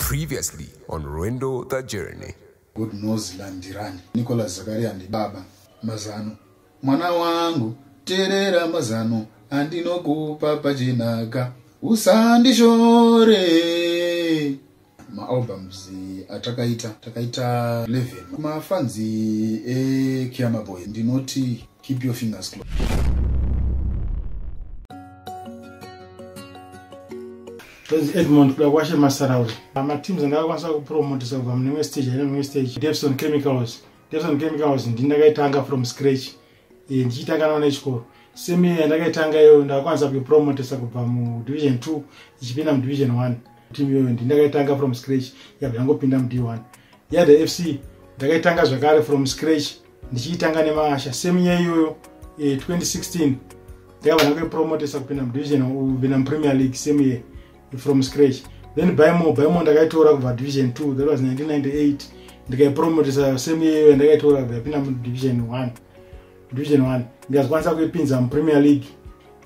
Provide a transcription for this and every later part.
Previously on Rwendo the Journey. God knows landirani. Nicholas Zakaria ndibaba mazano. Mwana wangu terera mazano andinokupa pachinaka usandishore maalbums atakaita takaita 11 mafanzi ekiama boy ndinoti keep your fingers closed Praise Edmond kuda kwashe masarauri. Ma teams andakakwanisa kupromotisa kubva mune imwe stage aine imwe stage. Devson Chemicals. Devson Chemicals ndi ndakaitanga from scratch. Eh, ndichitanga nawo nechikoro. Same year ndakaitanga iyoyo ndakakwanisa kuipromotisa kubva mudivision 2 ichipinda mudivision 1. Team iyoyo ndi ndakaitanga from scratch yabva yangopinda mud1. Yada FC ndakaitanga zvakare from scratch ndichiitanga nemasha same year iyoyo eh, 2016 ndakabva ndakuipromotesa kupinda mudivision kupinda mupremier league same year from scratch then bymo bymo ndakaitora kubva division 2 that was 1998 ndikaipromotesa same year iyoyo ndakaitora kubva yapinda mudivision 1 division 1 ndikazikwanisa kuipinza mupremier league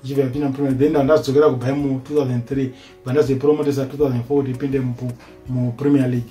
ichibva yapinda mupremier league then ndandazocokera kubymo 2003 bva ndazoipromotesa 2004 kuti ipinde mupremier league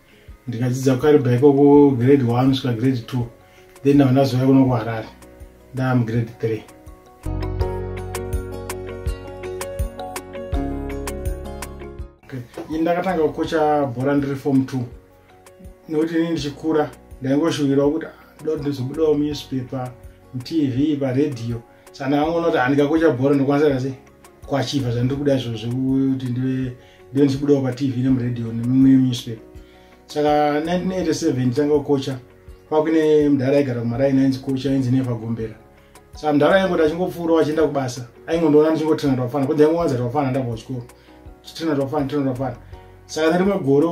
ndikadzidza kukaribha ikoko grade one kusvika grade two then ndava ndazouya kuno kuharare ndava mugrade three ini ndakatanga kukocha bhora ndiri form two nekuti ini ndichikura ndaingoshuvirawo kuti ah, ndoda ndizobudawo munewspaper mutv paredhiyo sana vangu vanoti handikakocha bhora ndokwanisa kase kwachiva zvandiri kuda izvo zvekuti ndive ndive ndichibudawo patv nemuradio nemimwe newspaper saka 1987 nditanga kukocha kwakuine mudhara aigara kumaraini ainzi kocha ainzi nevagombera saka mudhara aingoti achingopfuurawo achienda kubasa aingondiona ndichingotrina twafana kunzi aingowanza twafana ndabva kuchikoro chitrina twafana trina twafana saka nerimwe gore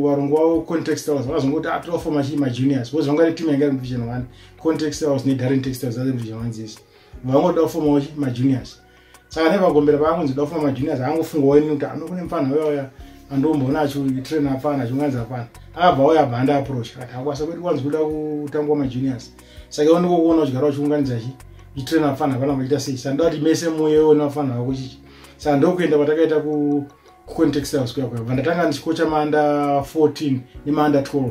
varongo vavo context hours vakazongoti atofoma ah, chii majuniors bcause vanga ri team yanga iri muvision one Con Textiles neGarden Textiles dzave muzvizha manzisi vangoda kufomawo majuniors saka nevagombera paangonzi da kufoma majuniors aangofunga waini kuti ano kune mfana uya uya andomboona achitraina apfana achionganzi apfana akabva uya abva anda approach kati hakwasa kweti kwanzi kuda kutangwa majuniors saka iwo ndikokuona uchigara uchiunganidza chi uchitraina apfana apana vachiita sei saka ndovati mese muyewo nevafana vako chichi saka ndokuenda kwatakaita ku kucontext house kuya kuya bva ndatanga ndichikocha maanda 14 nemaanda 12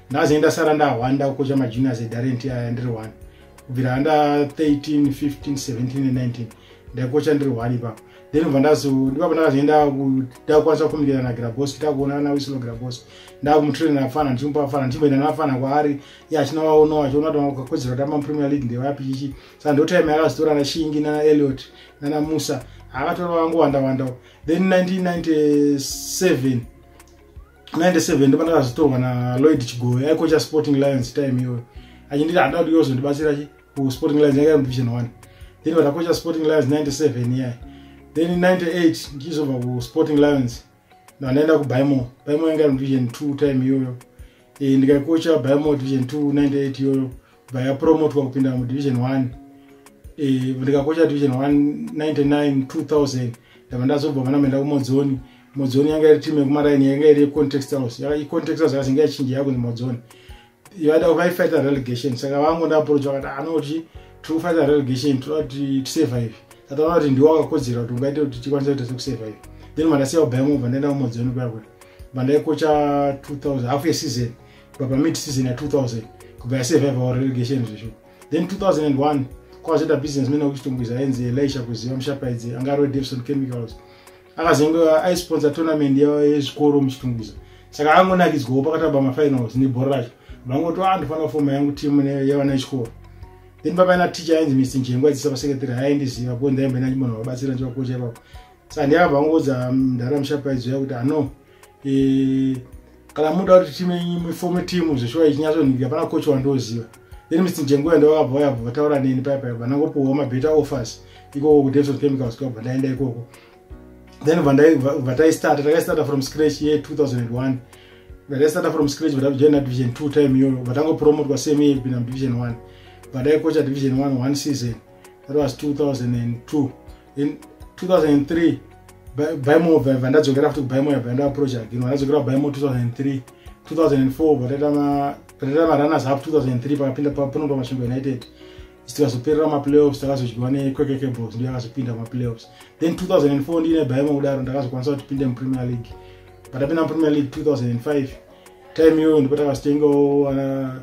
ndaze ndasara ndahwanda kukocha majuniors edarenti aya ndiri one kubvira under 13 15 17 19 ndaikocha ndiri one ipapo then bva ndazodipapo ndakazoenda ndakukwanisa kukomuniketa nagrabos takuonana nawisilo grabos ndakumutraina afana ndichimupa afana ndichimboenda naafana kwaari ye achina waono achiona kuti kakodzero tamba mupremier league ndevapi chichi sa ndotime yakazotora nashingi nana eliot nana musa akatora vangu wanda wanda then 1997 97 ndopandakazvitorwa naloyd chigoe aikocha sporting lions time iyoyo achinditi hada kuti yozondibatsira chi kusporting lions yanga division one then vatakocha sporting lions 97 iyayi then 98 ndichizobva kusporting lions ndanaenda kubymo bymo yanga division two time iyoyo e, ndikaikocha bymo division two 98 iyoyo vayapromotwa kupinda mudivision 1 eh, ndikakocha division 199 2000 ndava ndazobva vana maenda kumodzoni modzoni yanga iri timu yekumaraini yanga iri yecontext house icontext house yakazenge yachinja yakunzi modzoni vaida vaifighta relegation saka vangu ndaaproach vakati anoti ah, tiri kufighta relegation tiri kuti tisurvive tataona kuti ndiwo akakodzera kuti ungaite kuti tikwanisa kuita sekusurvive then mandasiya kubaya mobva ndaenda kumodzoni kuya kuya mandaikocha 2000 half yeseason kubva pamid season ya 2000 kubva yasurvive or relegation zvesho then 2001 kwazoita businessman wekuchitungwiza ainzi elisha kuziva mushapaidzi anga arwe davison chemicals akazenge aisponsor tournament yezvikoro muchitungwiza saka angonakidzwawo pakataba mafinals nebhora racho vangoti andofanira ah, kufoma yangu timu yevana yechikoro then papaina ticha ainzi misi njengwa dzisa pasekretary haindiziva po ndaimbe nachimunhu vabatsira ndivakocha ipapo saka ndiakabva angoudza mdhara mm, mushapaidzo yakuti ano ah, e, kana muda kuti timu yenyu ifome timu zveshuwa ichinyatsonhika pana kochi wandoziva then mr jengoya ndovakabva vayabva vataura neni paya paya vanangopiwa mabetter offers ikoko kudevison chemicals kwabva ndaenda ikoko then vataistata takaistata from scratch ye 2001 vataistata from scratch vatakujoina division 2 time iyoyo vatangopromotwa same year kupinda mudivision 1 vataikocha division 1 one season that was 2002 in 2003 baimo vabva ndadzokera futi kubaimo yabva ndaapproacha again vandadzokera kubaimo 2003 2004 vataita marunners up 2003 pakapinda paponopa masvingo united tikazoperera maplayoffs takazodyiwa nequeke cables ndiyo akazopinda maplayoffs then 2004 ndiine baimo kudaro ndakazokwanisa kuti pinde mupremier league patapinda mupremier league 2005 time iyoyo ndipo takazitengawo ana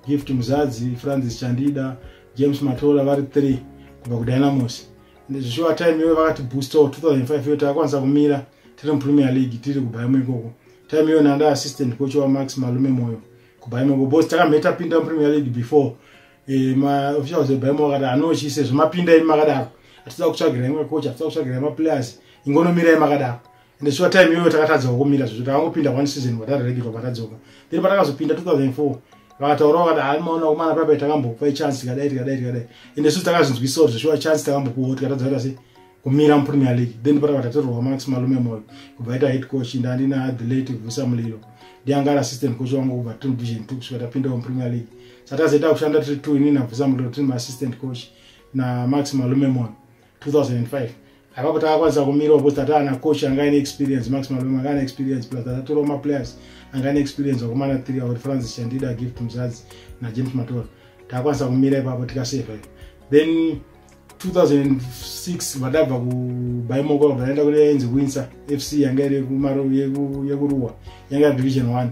gift muzadzi francis chandida James Matola vari 3 kubva kuDynamos. Ndizvishuwa time iyoyo vakati booster 2005 iyo takakwanisa kumira tiri muPremier League tiri kuBayern ikoko. Time iyoyo nanda assistant coach wa Max Malume Moyo kuBayern ikoko. Boss takamheta pinda muPremier League before eh ma officials eBayern vakati anochise zvimapinda imi makadaro. Atidza kutsvagira imwe coach, atidza kutsvagira ma players. Ingonomira imi makadaro. ende sure time iyoyo takatadzawo kumira zvizvo takangopinda one season vatareregerwa vatadzoka then patakazopinda 2004 vakataurawo vati hai maona kumana papai takambopa ichance tikadai tikadai tikadai ende suti takazvinzwisawo zveshuwa chance takambopuwawo tikatadza kuita se kumira mupremier league then patakabva tatorwa max malume moyo kubva ita head coach ende andina the late vusa mulilo ndianga ari assistant coach wangu kubva tiri division two kusvika tapindawo mupremier league saka tazoita kushanda tiri two ini nabvusa mulilo tiri maassistant coach namax malume moyo 2005 apapo takakwanisa kumirawo because tata ana coach anga ane experience max malome anga ane experience plus tatatorawo maplayers anga ane experience wakomana three akuti francis chandida gift muzadzi najames matora takakwanisa kumira ipapo tikaseva ipo then 2006 vadabva kubaimoko vadaenda kune yainzi winsa fc yanga iri yekuruwa yanga division one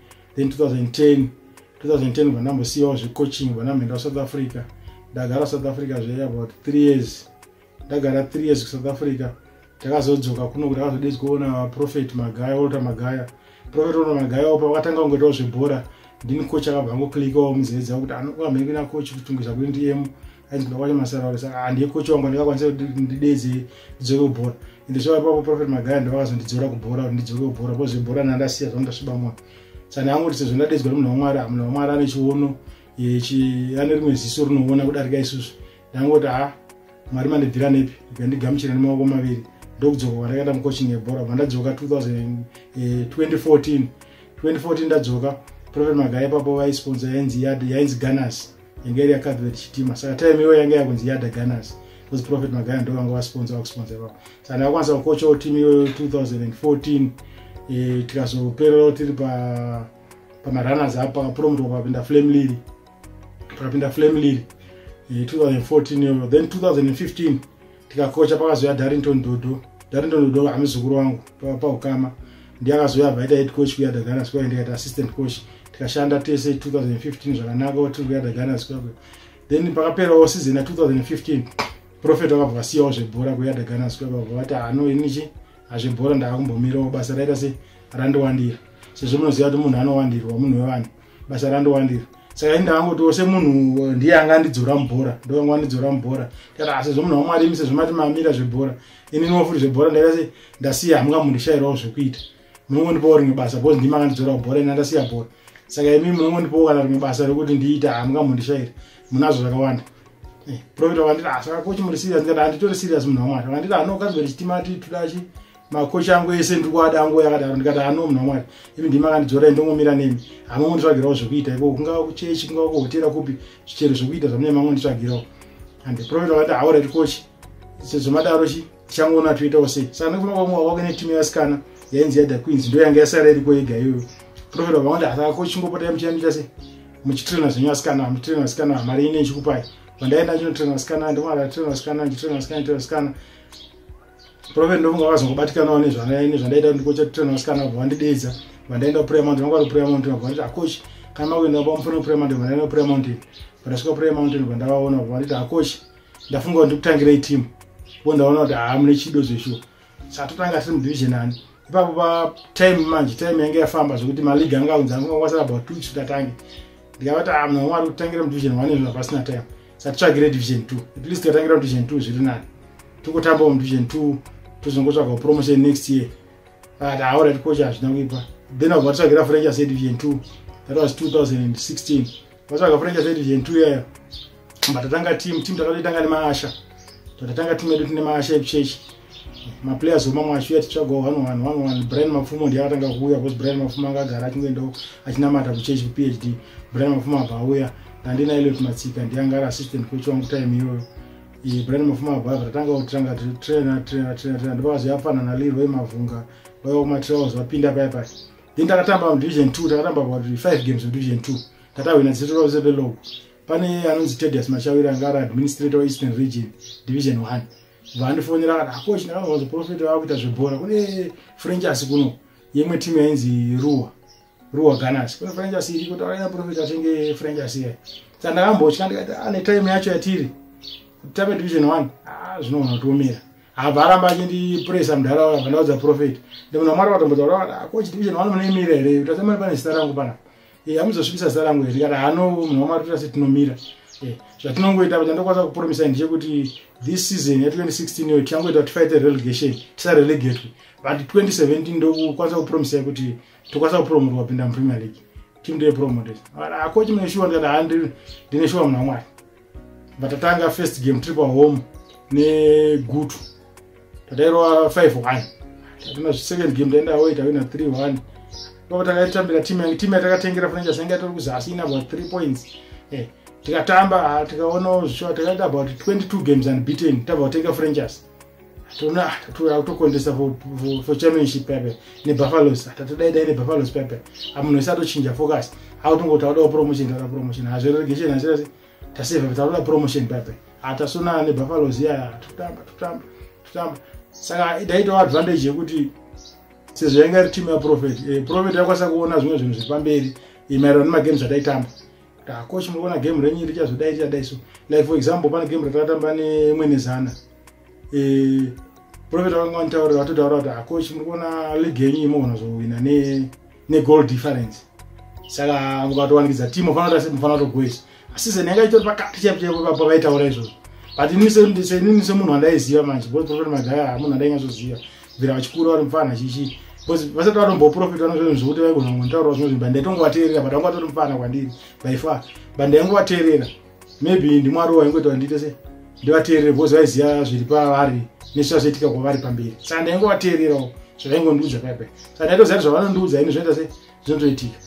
then 2010 2010 bva ndambosiyawo zvecoaching bva ndamhenda kusouth africa ndagara south africa zve about three years ndagara three years kusouth africa takazodzoka kuno kuti akazodezi kuona prophet magaya olota magaya prophet olota magaya opa vakatanga kungoitawo zvebhora ndini coach akabva angoclikawo muzedza kuti anokwamhiri kuina coach kutungisa kuti ndiyemu ainzi kuda kwacho masaraurisa handiye ah, coach wangu ndikakwanisa kuti ndideze ndidzoke kubhora ende zvava ipapo prophet magaya ndovakazondidzora kubhora kuti ndidzoke kubhora bcause zvebhora nandasiya zvanga ndasviba mwana sani angoti sezvo ndadedzwa nemunhu wamwari munhu wamwari ane chiono ane rimwe ziso rinoona kudarika isusu ndangoti ha ah, mwari mandibvira nepi ikandigamuchira nemaoko maviri ndokudzoka kwandakaita mucoaching yebhora mandadzoka 2014 2014 ndadzoka prophet magaya ipapo vaisponsa yainzi yad yainzi ganas yanga iri yakathlet chitima saka time iyoyo yanga yakunzi yada gunners bcause prophet magaya ndo vanga vasponsa vakusponsa ivavo saka ndakakwanisa kukochawo team iyoyo 2014 e, tikazopererawo tiri pamarunners pa apa pakapromotwa pakapinda flame liri pakapinda flame liri e, 2014 iyoyo then 2015 tikakocha pakazouya darrington dodo darrington dodo amuzukuru wangu paukama ndiye akazouya abva aita head coach kuyada ghana square ndikaita assistant coach tikashanda tese 2015 zvakanaka tiri kuyada ghana square then pakaperawo season ya 2015 profet vakabva vasiyawo zvebhora kuyada ghana square vakabva vati hano ah, inichi hazvebhora ndaakumbomirawo basa raita se randowandira sezvo munoziva kuti munhu anowandirwa munhu wevanhu basa randowandira saka inda angu kuti semunhu uh, ndiye anga andidzora mubhora ndovanga andidzora mubhora kati asi zvemunhu wamwari imi sezvomati mamira zvebhora ini niwafuri zvebhora ndaita se ndasiya hamunga mundishayirawo zvekuita munongondipawo rimwe basa bcause ndima angandidzora mubhora ini andasiya bhora saka imi munongondipawo kana rimwe basa rekuti ndiita hamunga mundishayira munazvo zvakawanda eh, profeta wakanditi asaka ah, kochi muri serious ndikati handitore serious munhu wamwari wakanditi anokaziva ah, chitima titudachi makocha angu ese ndiri kuada angu yakadaro ndikati ano munhu wamwari imi ndimi akandidzorai ndongomira nemi hama monditsvagirawo zvekuita iko kungava kuchechi kungava kuhotera kupi zvichero zvekuita zvamune mangonditsvagirawo and the prophet vakati hauraiti kochi sezvo madaro chi tichangoona toitawo sei saka ndikufuna kwamwa wako netimu yasikana yainzi yada queens ndo yanga yasara iriko yega iyoyo prophet vakawanda asaka kochi chingopota yamuchiyambita sei muchitrena zvenyu asikana muchitrena asikana mari ine ichikupai vandaenda ndinotrena asikana ndimara trena asikana ndichitrena asikana ndichitrena asikana Prophet ndofunga vakazongobatikanawo nezvandaita kuti ndikochatirana vasikana vabva vandideedza vandaenda kuprayer mountain vanga vari kuprayer mountain vabva vanditi akochi kana makuenda vabva mufana kuprayer mountain vandaenda kuprayer mountain vandasvika prayer mountain vabva ndavaona vabva vanditi akochi ndafunga kuti ndikutangirei team vo ndaona kuti haa mune chido zveshuwa satotanga tiri mudivision ani ipapo pa time manje time yange yafamba zvekuti maleague anga aunza anga kwasara about two weeks tatange ndikavati ah mna mwari kutangira mu division 1 izvo pasina time satitsvagire division 2 at least tikatangira mu division 2 zviri nani tokotamba mu division 2 tozongotsvaga promotion next year but aora tikocha hazvina kuipa then avatitsvagira french ase division 2 that was 2016 vatsvaga furniture said gentu iyayo but tatanga team team takatoitanga nemaasha tatanga team yedu tine maasha ekuchechi maplayers omamwe achiuya tichitsvaga one one one one brian mapfumo ndiye akatanga kuuya bcause brian mapfumo anga agara achingoendawo achinamata kuchechi kuphd brian mapfumo abva auya ndandina eliot matsika ndiye anga ari assistant coach wangu time iyoyo iyi brian mapfumo abva abva tatanga kutanga trainer trainer trainer trainer ndopakazoyafanana lirway mavhunga vaiwa kumatrails vapinda paya paya then takatamba mudivision two takatamba about five games mudivision two tatahwina zita ravo sevelog pane anonzi tedius machawira anga ari administrator weeastern region division one vandifonera kana akochi ndakamazoprofeta vava kuita zvebhora kune frenchasi kuno yemwe timu yainzi ruwa ruwa ganas kune frenchasi iriko taaina profeta atenge frenchasi iya sa ndakambotya ndikati ane ah, time yacho yatiri tape division one ah, zvinoona kutiomera abva aramba achindipuresa mudhara wavo abva ndaudza profeti ndimunhu wamwari vatombotaura kuti ah, ko chitivision wani munoimira here kuti asamani pane zita rangu panapa e amuzosvibisa zita rangu here kana hano munhu wamwari kuti asi tinomira e zvatinongoita kuti ndokwanisa kupromisai ndechekuti this season ya 2016 iyo tichangoita kuti fight relegation tisarelegatwe but 2017 ndokukwanisa kupromisai kuti tokwanisa kupromotwa kupinda mupremier league team ndeye promoted akochi ah, mune shuwa ndikati handine shuwa munhu wamwari vatatanga first game tiri pahome negutu tatairova 5 1 tatina second game taenda away tawina 3 1 ipapo takaitambira team yange team yatakatengera fana chasenge yatori kuzasi ina about 3 points eh, tikatamba ah, tikaonawo zvishoa takaita about 22 games and beaten tabva kutenga franchise tona tatuya kutokondesa for championship pepe nebuffaloes tatodaidai nebuffaloes pepe amunhu ese atochinja focus akutongo taudawo promotion tauda promotion hazviregation hazirasi taseva tauda promotion pepe atasonana nebuffaloes iyaya totamba totamba totamba saka idaitawo advantage yekuti sezvo yanga iri team yaprofet eh, profet yakwanisa kuona zvimwe zvinhu zviri pamberi eh, maererano nemagames ataitamba takochi ah, muriona game renyu richazodai tichadai so like for example pane game ratakatamba nemwenezana eh, profeta vanga vanitaurira vatotaura kuti acoach muri kuona league yenyu imogona zvohwina negoal difference saka mukatowanikidza team ufanira kuti mufanira kutogoisa season yanga itori pakati chaipo chaipo papo vaitaura izvozvo but inini semunhu wandaiziva manje bcause profeta magaya hamunhu andainyazoziva bvira vachikura vari mufana chichii bcause vasati vatomboprofita vanozvinhu zvekuti vaigona kungotaurawo zvimwe zvinhu but ndaitongovateerera but vanga vatori mufana kwandiri by far but ndaingovateerera maybe ndimwari waingoita kuti ndiite sei ndivateerere because vaiziva zviri pavari nezvazvaitika kwavari pamberi saka ndaingovateererawo zvavaingondiudza paipai saka ndaitoziva kuti zvavanondiudza ini zvinoita sei zvinotoitika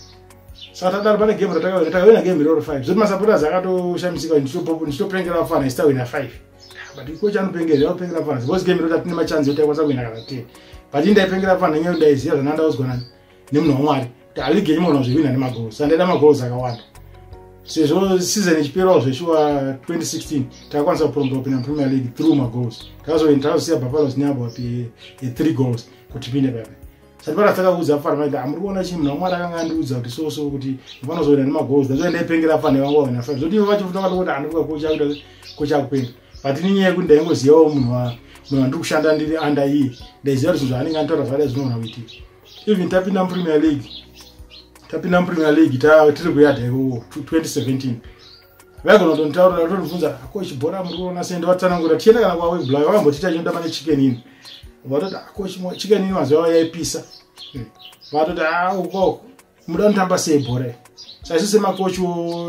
saka tadaro pane game ratakawina takawina game iroro five zvoti masapoters akatoshamisika ndichitopengera vafana isitawina five but ikochi anopengera zvaanopengera vafana because game iroti atine machanzi yoti aikwanisa kuwina kana ten but indaipengera vafana nyaya ndaiziva zvanandaudzwa nani nemunhu wamwari kuti aligi yenyu mwana zvihwina nemagoals sandaida magoals akawanda sezvo season ichiperawo zveshuwa 2016 takakwanisa kupromba kupinda mupremier league through magoals takazoenda takazosiya bhafalos neabo kuti three goals kuti pinde papa satipara takaudza afana maiti amuri kuona chii munhu wamwari akanga andiudza kuti so so kuti mfanozoenda nemagoals ndazoi ndaipengera afana ivangu vavana fana zvotivo vacho futi vakatokuti andivuka kochakuda kochakupenga but ninyaya yekuti ndaingozivawo munhu munhu andiri kushanda ndiri under iye ndaiziva kuti zvinhu zvaanenge anditora zvada zvinoona kuitika even tapinda mupremier league tapinda mupremier league tiri kuyadha iwowo 2017 vaigona kutonditaurira kutondibvunza ko chibhora muri kuona sei ndivatsanangura tichienda kana kwawebla vakambotiita chinoda mane chicken ini vatoti ko chicken ini mazuva avo yaipisa vatoti ah, ukoko muda kutamba sei bhora saisu semacoach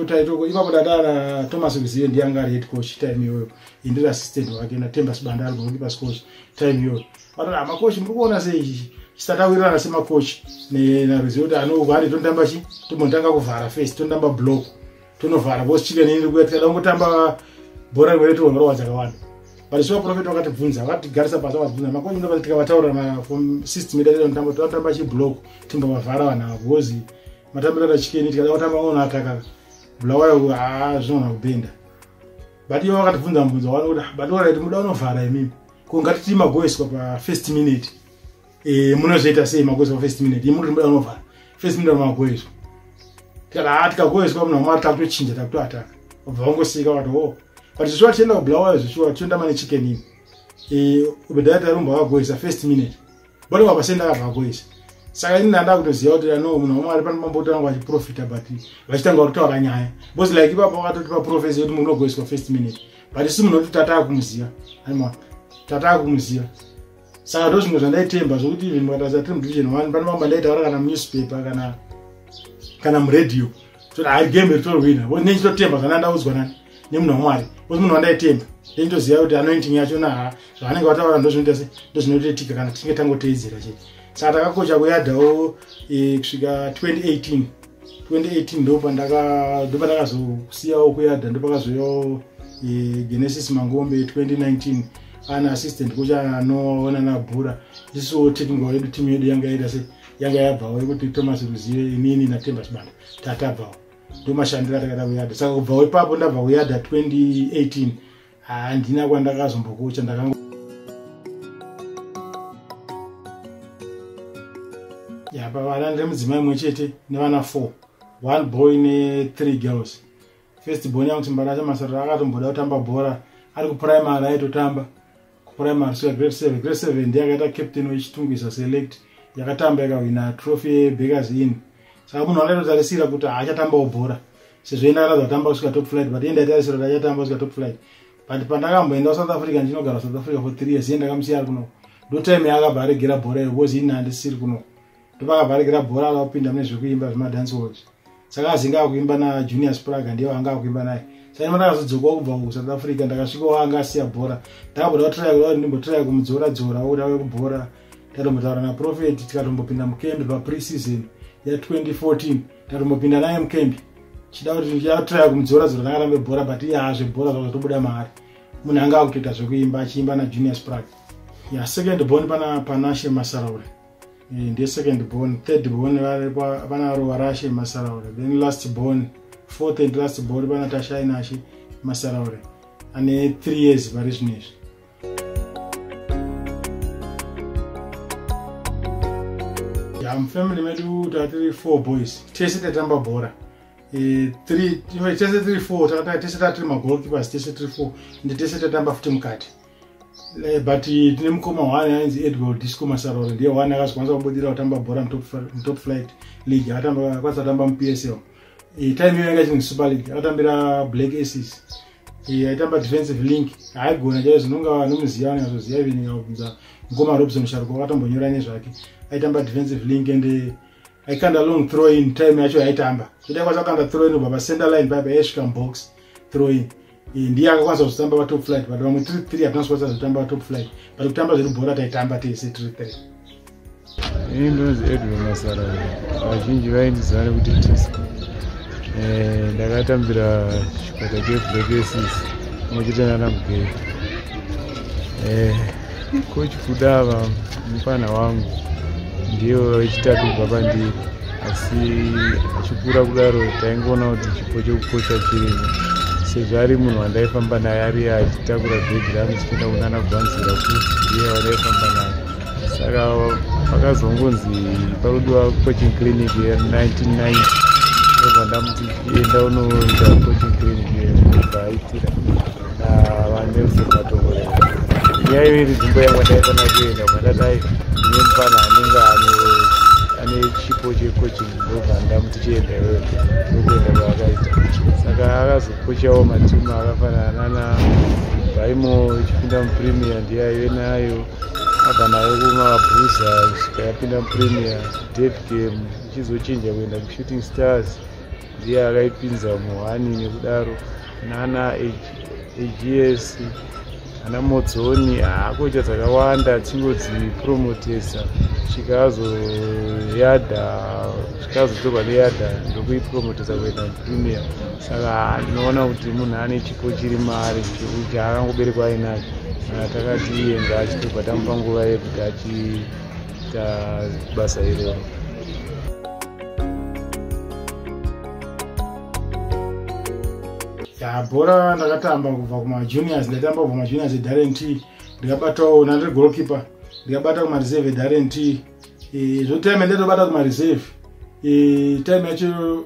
taitoko ipapo tatana thomas vizive ndiye anga ari head coach time iyoyo indiri assistant wake natemba sibanda ari gokipa scoach time iyoyo vatoti amacoach ah, muri kuona sei chisatawirirana semacoach naruzive kuti anovari tonotamba chi tombotanga kuvhara face tonotamba block tonovhara bcause chicken ini ndikuya tikada kungotamba bhora rimwe retoona rowa dzakawanda but sure profet vakatibvunza vakatigarisa pasi vakatibvunza makonyi ndoba tikavataurira mafom system yedu yataita mutambo tovatamba chiblock timbovavhara vanhu ava bcause matambiro ata chicken tikada kutamba ona akaka bulawayo zvinogona kubenda but ivo vakatibvunza mubvunzo wani kuti ah, but orit muda unovhara imimi ko ngatitii magoiswa pafirst minute Eh munozviita sei makuziva first minute. Imuri muda unovhara. First minute makuizwa. Kana hati kakuizwa mna mwari takutochinja takutoataka. Obva wangosika wati wo. Oh. But zvishuwa tienda kublawa zvishuwa tienda mane chicken ini. Eh ubedaya tarumba wakuizwa first minute. Bwana wapasenda kakuizwa. saka ini ndanda kutoziva kuti ano munhu wamwari pano pambotanga vachiprofita but vachitanga kutaura nyaya bcause like ipapa vakatoti paprofesi yekuti munogoiswa first minute but isi munhu kuti tataa kumuziva aima tataa kumuziva saka ndo zvimwe zvandaitemba zvokuti even mukataza tiri mudivision one pane mambo andaitaura kana munewspaper kana kana muradio toti hai game iri torwina bcause nechitotemba zvana ndaudzwa nani nemunhu wamwari bcause munhu wandaitemba nechitoziva kuti anointing yacho naha zvavanenge vataura ndo zvinoita se ndo zvinotoitika kana tichinge tangoteedzera chete saka takakocha kuyadhawo eh, kusvika 2018 2018 ndopandakazokusiyawo kuyadha ndopakazoyawo eh, genesis mangombe 2019 ana assistant kucha anoona nabhura isiwo technical yedu team yedu yanga yaita se yanga yabvawo yekuti thomas ruzive inini natemba chibanda tatabvawo ndomashandira takada kuyadha saka kubvawo ipapo ndabva kuyadha 2018 handina kwandakazombokucha ndakango yapa vana ndiri mudzimai imwe chete nevana four one boy nethree girls first born yangu chimbarasha masarira akatomboda kutamba bhora ari kuprimary aitotamba kuprimary so grade seven grade seven ndiye akaita captain wechitungwiza select yakatamba ikahwina trophy yebakers in saka munhu akaitotarisira kuti haachatambawo bhora sezvo enda akatanzi atamba kusvika top flight but enda atarisira kuti achatamba kusvika top flight but pandakamboenda kusouth africa ndinogara south africa for three years iye ndakamusiya ari kuno ndotime yaakabva aregera bhora iyo bcause ini handisiri kuno ndopakabva aregera bhora akapinda mune zvekuimba zvemadance walls saka azinge akuimba najunior spraga ndiye waanga akuimba naye saima ndakazodzokawo kubva kusouth africa ndakasvikawo anga asiya bhora ndakaboda kutraya kuda kuti ndimbotraya kumudzora dzora kuti ave kubhora tatombotaura naprofeti tikatombopinda mukembi papreseason ya2014 tatombopinda naye mukembi chida kuti ndiyatraya kumudzora dzora tanga tambe bhora but iye haa zvebhora zvakatobuda maari munhu anga akutoita zvekuimba achiimba najunior sprag ya second born pana panashe masaraure eh, ndiye second born third born vana ruva rashe masaraure then last born fourth and last born pana tashainashe masaraure ane three years vari zvino izvi ya mufamily medu tatiri four boys tese tatamba bhora e, tese tiri four tese tatiri magoalkeepers tese tiri four ndi tese tatamba futi mukati e, but tine mukoma one ainzi edward disco masarora ndiye one akazokwanisa kubudira kutamba bhora mutop flight league akakwanisa kutamba mupsl e, time iyo yanga chini super league akatambira black aces yaitamba defensive link haigona chaiyo zvinonga vanomuziva vanenge vazoziva ive ndinga kubvunza mukoma robson sharuko wakatombonyora nezvake aitamba defensive link and eh, aikanda long throw in time yacho yaitamba zvoti akwanisa kukanda throw in ubva pacenter line paipa yaisvika mubox throw in eh, ndiye akakwanisa kuzotamba patop flight but vamwe three three hatinasi kwanisa kuzotamba patop flight but kutamba zvedu bhora taitamba tese three three ini ndonzi edwin masara vazhinji vaindiziva nekuti tisco eh, ndakatambira chikwata cheblakesis mochita nana mugeri eh, kochi kudava mufana wangu ndiyo chitatu kubva pandiri asi achikura kudaro taingoona kuti chipo chekukocha chirimo sezvo ari munhu wandaifamba naye ari achitakura bhegi rangu chichienda kunana gwanzira kuti ndiye wandaifamba naye saka vakazongonzi parudiwa coaching clinic ye 1990 ndobva ndamuti enda unoita coaching clinic ye ndobva aitira navanelson matongorera nyaya iyo iri dzimbo yangu ndaifana kuenda kwandadai ine mufana anenge ane chipo checoaching ndobva ndamuti chienda iwewe ndokuenda kwaakaita saka akazokochawo matimu akafanana nana baimo ichipinda mupremier ndiye aive nayo abva nayo kumabhuza kusvika yapinda mupremier dead game ichizochinja kuenda kushooting stars ndiye akaipinza muhani nekudaro nana ags ana modzoni haakoita dzakawanda dzingodzipromotesa svika azoyadha tazotorwa neyadha ndokuipromotesa kuenda premier saka ndinoona kuti munhu ane chipo chiri maari chekuti akangoberekwa ainacho kana takati iyenga achitobva tamupa nguva yekuti achiita basa iroro bhora ndakatamba kubva kumajuniors ndaitamba kubva kumajuniors edarent ndikabatawo nandiri golkeeper ndikabata kumareserve edarent e, zvotime ende tobata kumareserve e, time yacho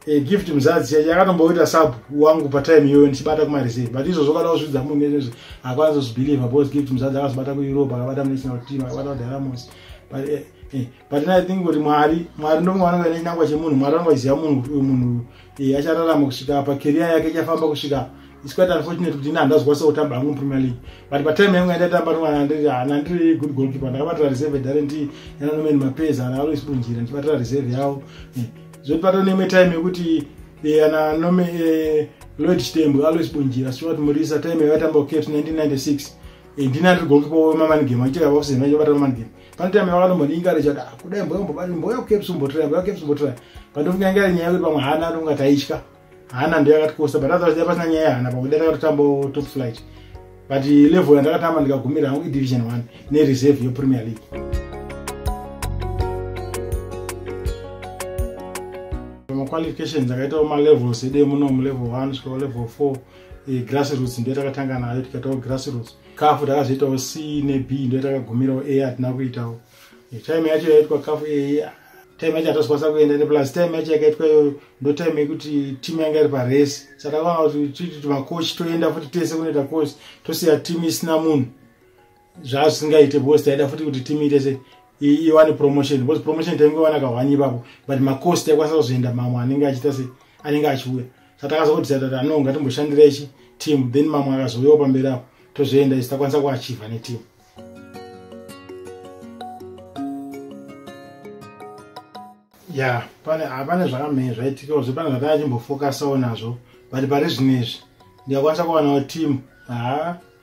e, gift muzadzi yakatomboita sub wangu patime iyoyo ndichibata kumareserve but izvozvo kana kuzvidza munhu nezvezvo akwanisa kuzvibelieve bcause gift muzadzi akazobata kueurope akabata munational team akabata kudiramos but e, e, but i think kuti mwari mwari ndomwe vanonga nechinangwa chemunhu mwari vanonga vachiziva munhu kuti uyu munhu Iye achararama kusvika apa career yake ichafamba kusvika apa it's quite unfortunate kuti ini handazwa so kutamba hangu mupremier league but patime yangu yandaitamba rimwana ndiri hana ndiri good goalkeeper ndakabatira reserve darenti yananomeni mapeza hana alois bunjira ndichibatira reserve yawo eh, zvoti pato neimwe time yekuti eh, ana nome eh, lloyd chitembo alois bunjira stuart murisa time yaitamba kucaps 1996 ndinandiri goalkeeper wemamanigame achichakavakusena ichobata mamanigame pane time yavakanombondinga richada kudai mboya mboba mboya kukeps umbotira mboya kukeps umbotira pandofunga inga nyaya yekuti pamwe hana ndonga taitya hana ndiyo yakatikosa but otherwise dai pasina nyaya yehana pamwe dai takatotambo top flight but level yandakatamba ndikagumira hangu idivision one nereserve yepremier league maqualifications akaitawo malevels edee muno mulevel one svikawo level four eh, grassroots ndiyo takatanga nayo tikaitawo grassroots kafu takazoitawo c neb ndo yatakagumirawo a hatina kuitawo time yacho yaitwa kafu a time yacho hatazokwanisa kuenda neplus time yacho yakaitwa iyoyo ndo time yekuti team yanga iri paresi saka vanga kuti makochi toenda futi tese kunoita kochi tosiya team isina munhu zvaa zvisingaite because taida futi kuti team itese iwane promotion because promotion taingowana kahwani ipapo but makosi taikwanisa kuzoenda mamwe anenge achiita se anenge achiuya saka akazongoti tatata no ngatimboshandirechi team then mamwe akazouyawo pamberi apo tozvienda isi takwanisa kuachiva neteam ya pane hapane zvakamhee zvaitikawo zve pane zvatanga chimbofokasawo nazvo but pari zvinezvi ndikakwanisa kuwanawo team haa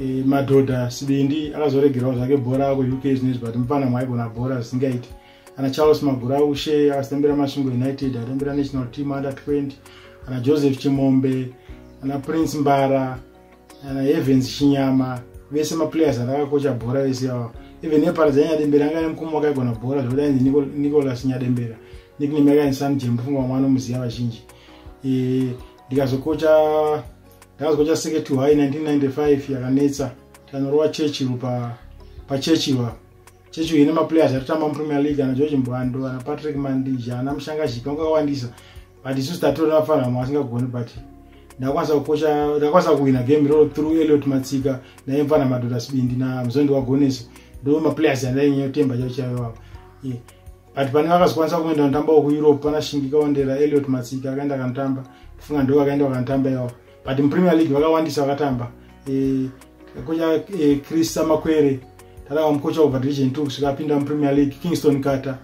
e, madhodha sibindi akazoregerawo zvake bhora kuuk zvinezvi but mupana mwaigona bhora zvisingaiti ana charles maguraushe akasitambira masvingo united atambira national team under 20 ana joseph chimombe ana prince mbara ana evens chinyama vese maplayers atakakocha bhora vese ava even neparadza yanyadembera anga nemukoma wakaigona bhora zvekuti ainzi nicolas nyadembera nickname yakainzi sanjembufunga vamwana omuziva vazhinji e, ndikazokocha ndakazwa chaseke to high 1995 yakanetsa tanorova churchill pa pachurchill apa churchill ine maplayers atotamba mupremier league ana george mbwando ana patrick mandija ana mushanga zhipi vanga vakawandisa but isusu tatorera vafanhamo vasingagoni but ndakwanisa kukocha ndakwanisa kuhwina game iroro through eliot matsika naye mfana madhota sibindi namuzondi wagonesi ndo maplayers andainyanya kutemba chaichaiwapo yeah. but pane vakazokwanisa kumwenda vanotamba wekueurope pana shingika wandera eliot matsika akaenda akanotamba kufunga ndo vakaenda vakanotamba iwawo but mupremier league vakawandisa vakatamba eh, kocha eh, chris samakwere tadava mukocha kubva division two kusvika apinda mupremier league kingston carter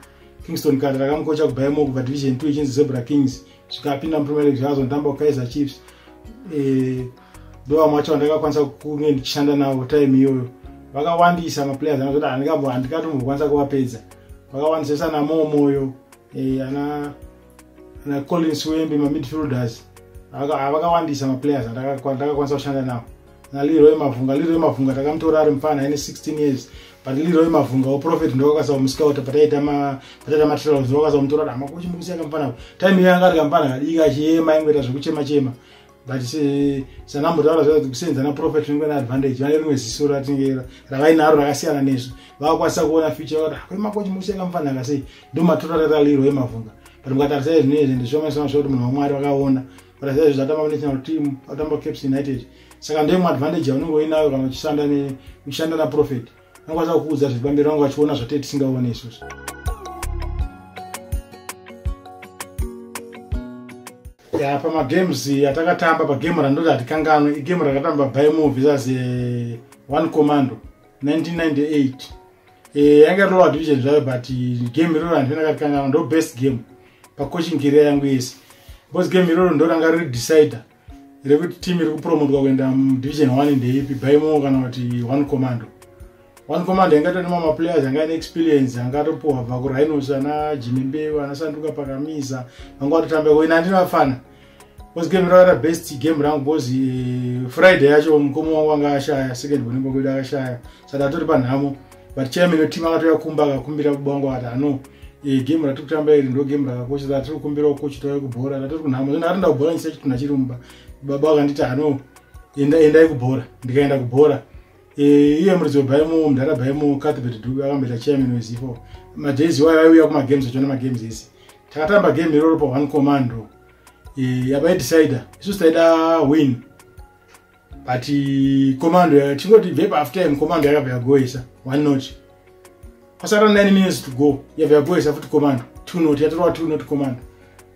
kingston carter takamukocha kubayemo kubva division two ichinzi zebra kings zvikapinda mupremier league zvakazonditamba kukaiza chiefs eh, ndovamwe vacho vandakakwanisa kunge ndichishanda navo time iyoyo vakawandisa maplayers anazoti handikatombokwanisa kuvapedza vakawandisa sana momoyo eh, ana ana collins wembe mamidfielders vakawandisa maplayers andakakwanisa kushanda navo naliroy mavhunga liroy mavhunga takamutora ari mupfana aine 16 years but liroy mavhunga woprofet ndokakasa kumuscouta pataita matrials ndokakasa kumutora dama kuchimukusiya kamupfana time iyo yanga ari kamupfana kadika achiyema ingoita zvekuchema chema but sanambotaura zva kusenza naprofet ringe neadvantage vane rimwe ziso ratinge ravainaro rakasiyana nezvo vakakwanisa kuona future vati kwemakochi mukusiya kamupfana akasei ndomatora raralirwo emavhunga but mukatarisa izvinezvi ndizvomaisona zvakuti munhu wamwari vakaona kuratidza izvi zvatamba kunational team atamba caps united saka ndoimwe advantage yaunenge uinayo kana uchishanda uchishanda naprofet vanokwanisa kukuudza zviri pamberi vange vachiona zvatee tisingaone isusu ya pamagames atakatamba pagame randoti hatikanganwe igame rakatamba by movies as one commando 1998 eh, yanga lower division zvayo but game iroro handinakakangaa ndo best game pacoaching career yangu yese because game iroro ndo ranga riri decider rekuti team iri kupromotwa kuenda mudivision one ndeipi bymo kana kuti one commando one commando yanga tone mamaplayers anga ane experience anga atopuhwa bva kurhinos ana jimimbevo anasanduka pakamiza vanga vatotamba ko ina andini vafana was game rara best game rangu because eh, friday yacho mukoma wangu anga ashaya second one ngoko ida ashaya saka atori panhamo but chairman weteam akatoya kumba akakumbira baba wangu ati ano eh, game ratiri kutamba iri ndo game rakakosha saka tiri kukumbirawo coach toya kubhora ratori kunhamo zvino atonda kubhora ndisati tunhu achiri mumba baba vakanditi ano enda endai kubhora ndikaenda kubhora eh, iye muridzi webaimo mudhara baimo cathbert dube akamboita chairman wezifo madays iwayo aiuya kumagames achona magames ese takatamba game iroro pa one commando e, yavaidecider isu taida win but e, commando tingoti vepa half time commando yakabva yagoesa one not kwasara 9 minutes to go yabva yagoesa futi commando two not yatorwa two not commando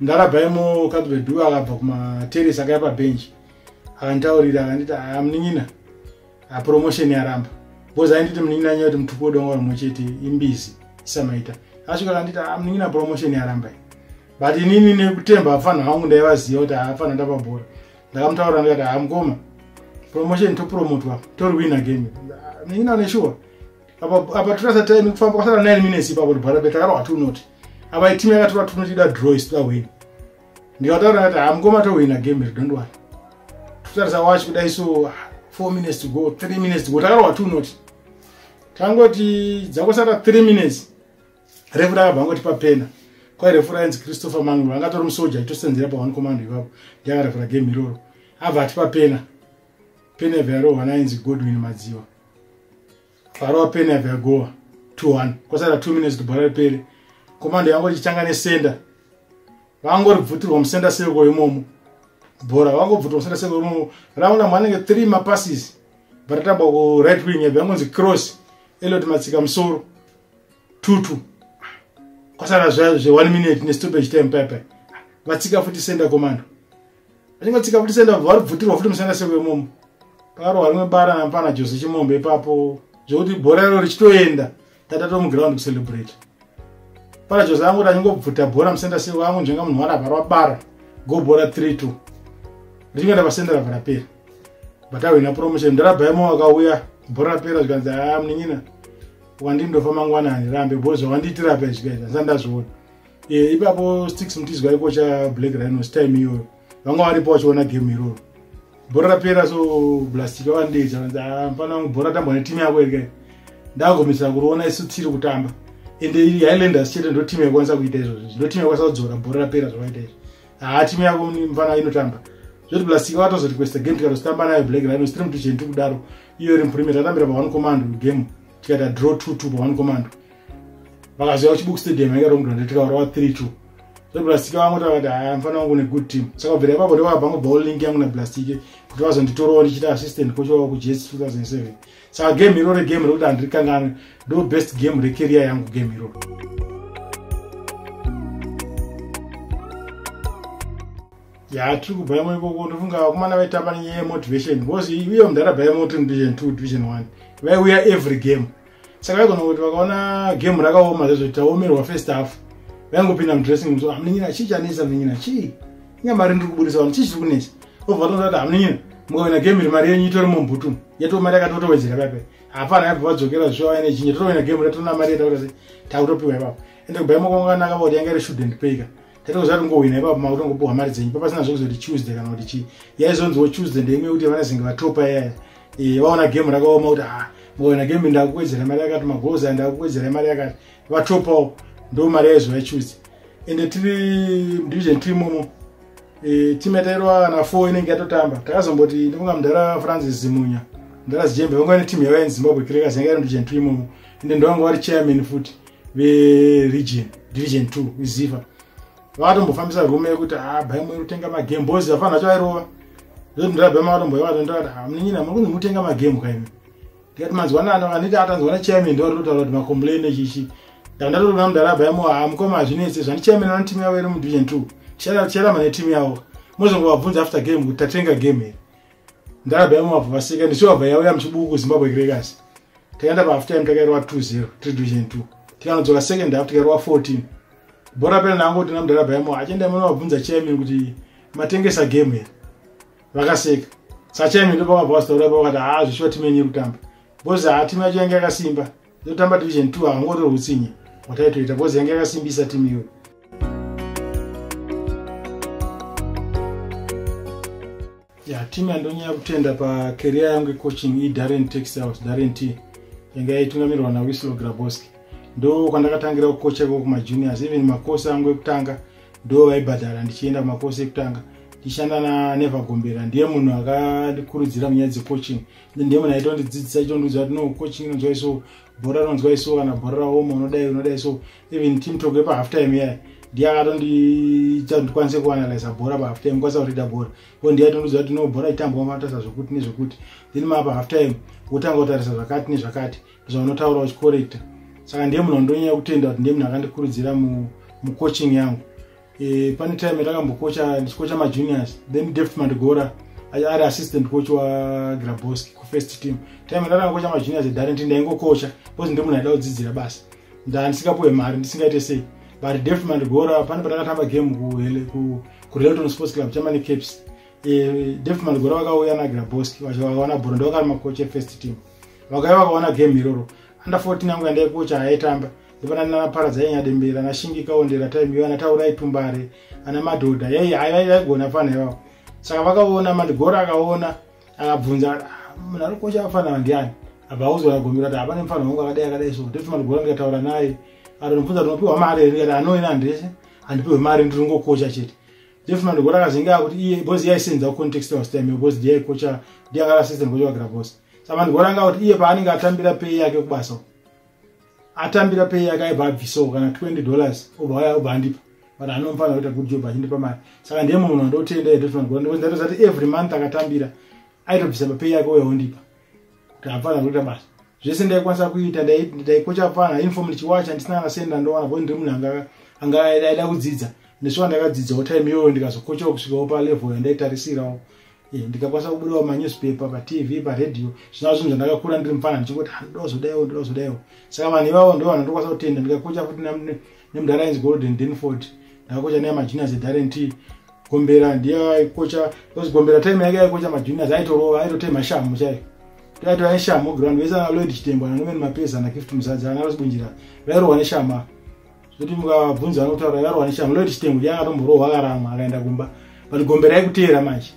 ndarabaimo kadvedu akabva kumateresi akaya pabench akantaurira akanditi amunin'ina ah, promotion yaramba because ainditi munin'ina nyaya kuti mutupo wedongo rimwe chete imbizi isamaita asvika kanditi ah, munin'ina promotion yaramba i but inini nekutemba hafanha vangu ndaivaziva kuti hafanha ndapabhora ndakamutaura ndikati hamukoma ah, promotion topromotwa tori win again munin'ina une shuwa apa torasa time kufamba kwasara 9 minutes ipapo tibhara petakarwa tunoti apa itimu yakatora tunotida drois toda win ndikataura kuti hamukoma tohwina game iri don't worry totarisa watch kudai so four minutes to go three minutes to go takarwa two not tangoti dzakosara three minutes refu rakabva ngoti papena kwairefu rainzi christopher manglo anga tori musoja itosenzera pa one command ipapo ndiakarefura game iroro abva ati papena pena vyarohwa nainzi godwin madziwa bhara wapeni yabva yagowa 21 kwasara 2 minutes kuti bhara ripere komando yangu richitanga nesenda vangoribvutirwa musenda seko imomo bhora vangobvutirwa musenda seko imomo raunda manenge 3 mapasses varatamba ku right wing yabva yangonzi cross elot matsika musoro tutu kwasara zve 1 minute nestopage time paipai vatsika futi senda komando ringa tsika kuti senda vari bvutirwa futi musana seko yemomo pakarohwa rimwe bara nampana jose chimombe ipapo zvekuti bhora iro richitoenda tata tomuground kucelebrate pana jose angoti achingobvuta bhora musenda seko angonzvenga munhu wari avharwa bara go bhora 3 2 richingoenda pasenda rava rapera but ahwina promotion ndarabaimo wakauya bhora rapera zvikanzi aa ah, munin'ina wandindofa mangwana handirambe bho zvawandiitira apa izvikaita ndisandazviona Eh, ipapo sticks mutizwa aikocha black rhinos time iyoyo vanga varipo vachiona game iroro bhora rapera so blastic avandeja vanzi ah, mfana wangu bhora tambwa netimu yako ere ndagomisa kuriona isu tiri kutamba ende highlanders chete ndo timu yakwanisa kuita izvozvo ndo timu yakwanisa kudzora bhora rapera zvavaita izvo haa ah, timu yako mfana inotamba zvoti blastic vatozorequesta game tikatozotamba nayo black rhinos tiri mutucheni tiri kudaro iyo iri muprimate atambira pa one command game tikata draw two two pa one command vakazouya kuchibuku stadium yanga romudwa ndetikaura wa 3 2 zveblastic vangu tavati haya mfana wangu une good team saka bvira ipapo ndovabva ngo ball link yangu na blastic kuti vazonditorowo ndichiita assistant coach wavo kujets 2007 saka game iroro game rekuti handirikanganwe ndo best game recareer yangu game iroro ya tiri kubva yamo ikoko ndofunga vakomana vaitamba nenyaya yemotivation because iuye mudhara bva yamo tiri mudivision two division one vaiuya every game saka vaigona kuti vakaona game rakaoma zvezvo taomerwa first half vaingopinda mudressing room so hamunenyina chii chanesa munenyina chii inga mari ndiri kuburisa vanhu chii chiri kunesa obva tonzwa kuti hamunenyina mukawina game iri mari yenyu itori mumbutu yatoo mari yakatotowedzera pape hapana yabva vadzokera zvisho vaine chinye totowina game ratona mari yataura se takutopiwa ipapo ende kubaimwa kwangu kanaka voti yanga iri shouldn't payka Tete kuzati ungohwina ipapo makuti ungopuhwa mari dzenyu papasina zvekuzoti Tuesday kana kuti chii yaizonziwo Tuesday ndeimwe yekuti vanazenge vatopa yaya eh, vaona game rakaoma kuti ah ngohwina game ndakuwedzera mari yakati magoals aya ndakuwedzera mari yakati vatopawo ndo mari yaizova Tuesday ende tiri division team umo e, team yatairwa na four inenge yatotamba takazomboti ndikunga mudhara francis zimunya mudhara zijembe vangova neteam yavaya nezimbabwe crackers yanga iri ndivision team umo ende ndovanga vari chairman futi veregion division 2 iziva vakatombofambisa rume yekuti ah, bhai mweri kutenga magame bozi afanira chairova zvotindirabha makatomboivatondati ah, munin'ina muri kunzi mutenga magame kaimi ndikati manzwanana anditi atanzwa na chairman ndivaritotaura kuti macomplain echichi ndandatoona mudara bhaimo ha ah, mukoma hazvinetse zvani chairman vano timu yavo iri mudivision 2 ticharama netimu yavo mozongobabvunza after game kuti tatenga game here ndarabha yamumabva vaseka ndichivabva yauya muchibuku kuzimbabwe gregasi takaenda pahalf time takairova 20 tiri division 2 tikanodzoka second half tikairova 14 bhora pena nangu kuti namdarabha yamo achienda mwana vabvunza chairman kuti matengesa game here vakaseka sachairman ndopavabva vasitaura pavakati haa zvishuwa timu yenyu yekutamba bhozi haa timu yacho yange yakasimba Ndotamba division 2 haungotori hutsinye wataitoita because yange yakasimbisa team iyoyo. ya team yandonyanya kutenda pacareer yangu icoaching idarren tax house darren t yanga yaitungamirwa nawislow graboski ndo kwandakatangira kukocha ko kumajuniors even makosi angu ekutanga ndo vaibhadhara ndichienda kumakosi ekutanga ndichishanda nanevagombera ndiye munhu akandikurudzira munyaya dzecoaching ndiye munhu aitondidzidzisa ichondiudza kuti no coaching inonzwa iso bhora rinonzwa iso kana bhora raoma unodai unodai so even team talk yepa half time yaya ndiye akatondiita kuti kwanise kuanalyza bhora pahalf time kwanisa kurida bhora ko ndiye aitondiudza kuti no bhora itambwa matarisa zvekuti nezvekuti then mapa half time wotanga kutarisa zvakati nezvakati bcause vanotaura uchicorrecta saka ndiye munhu andonyanya kutenda kuti ndiye munhu akandikurudzira mucoaching yangu e, pane time yatakambokocha ndichikocha majuniors then deft mandigora ari assistant coach wagraboski kufirst team time yatatakangokocha majuniors edarenti ndaingokocha bcause ndimunhu aida kudzidzira basa ndandisingapuwe mari ndisingaite sei but deft mandigora pane patakatamba game kurelton sports club chamane caps e, deft mandigora vakauya nagraboski vachivakaona bhoro ndovakari makocha efirst team vakauya vakaona game iroro under 14 yangu yandaikocha haitamba ivana nana paradza yenya dembera na shingi kaondera time ivana taura itumbare ana madhodha yei vaigona fana ivavo saka vakaona mandigora akaona akabvunza ah, munhu ari kukosha vafana vandiani abva auzoona gomera kuti hapane mufana wangu akadai akadai so ndoti mandigora ndikataura naye atonobvunza kuti unopiwa mari here kati anoena hanhu ndese handipiwe mari ndiri kungokosha chete jeff mandigora akazenge akuti iye bhozi yaisenza kucontext was time bhozi ndiyaikocha ndiyakara system kocha wagira bhozi saka mandigora anga kuti iye paanenge atambira pei yake kubasa uko atambira pay yake aibva abvisawo kana 20 dollars obva waya obva andipa but anofanira kuita good job achindipa mari saka ndiye munhu wandotenda edofanirandozati every month akatambira aitobvisa papay yake uya ondipa kuti afanira kuita basa zvese ndaikwanisa kuita ndaikocha pfana inform ndichiwacha ndisina kana senda ndowana kuti ndiri munhu anga anga aida kudzidza nesuwa ndakadzidzawo time iyoyo ndikazokochawo kusvikawo palevel yandaitarisirawo Eh, ndikakwanisa kubudawo manewspaper patv paradio zvinaa zvinhu zvandakakura ndiri mufana ndichingoti handozodaiwo ah, ndozodaiwo saka vanhu ivavo ndo vanhu ndokwanisa kutenda ndikakocha futi nemudhara ainzi golden denford ndakakocha naye majuniors edarent gombera ndiye aikocha bcause gombera time yake aikocha majuniors aitorova aitotei mashamu chai toaito aishamu ground vese analoid chitembo ananoven mapeza anakift muzadzi anarosibunjira vairohwa neshama zvekuti mukabvunza anotaura yarwa neshanga munoti chitengo changa atomborohwa akaramwa akaenda kumba but gombe raikuteera manje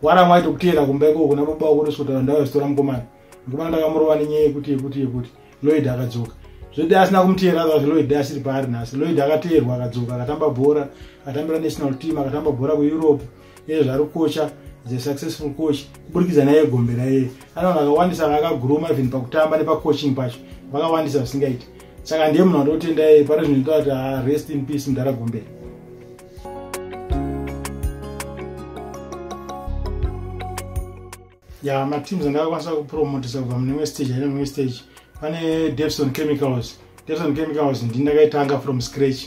waramwa aito kuteera kumba ikoko kuna baba wako ndosvikotaura ndauya zvitora mukomana mukomana ndakamurova nenyaya yekuti yekuti yekuti loid akadzoka zvekuti asina kumuteera otherwise loid asiri paari nhasi loid akateerwa akadzoka akatamba bhora akatambira national team akatamba bhora kueurope iye zvari kocha is a successful coach kuburikidza naye gombe raiye ana vanhu vakawandisa vakaguruma even pakutamba nepacoaching pacho vakawandisa zvisingaiti saka ndiye munhu andotenda yeye pari zvinoita kuti ah, rest in peace mudhara gombe ya mateams andakakwanisa kupromotisa kubva mune imwe stage aine mumwe stage pane depson chemicals depson chemicals ndi ndakaitanga from scratch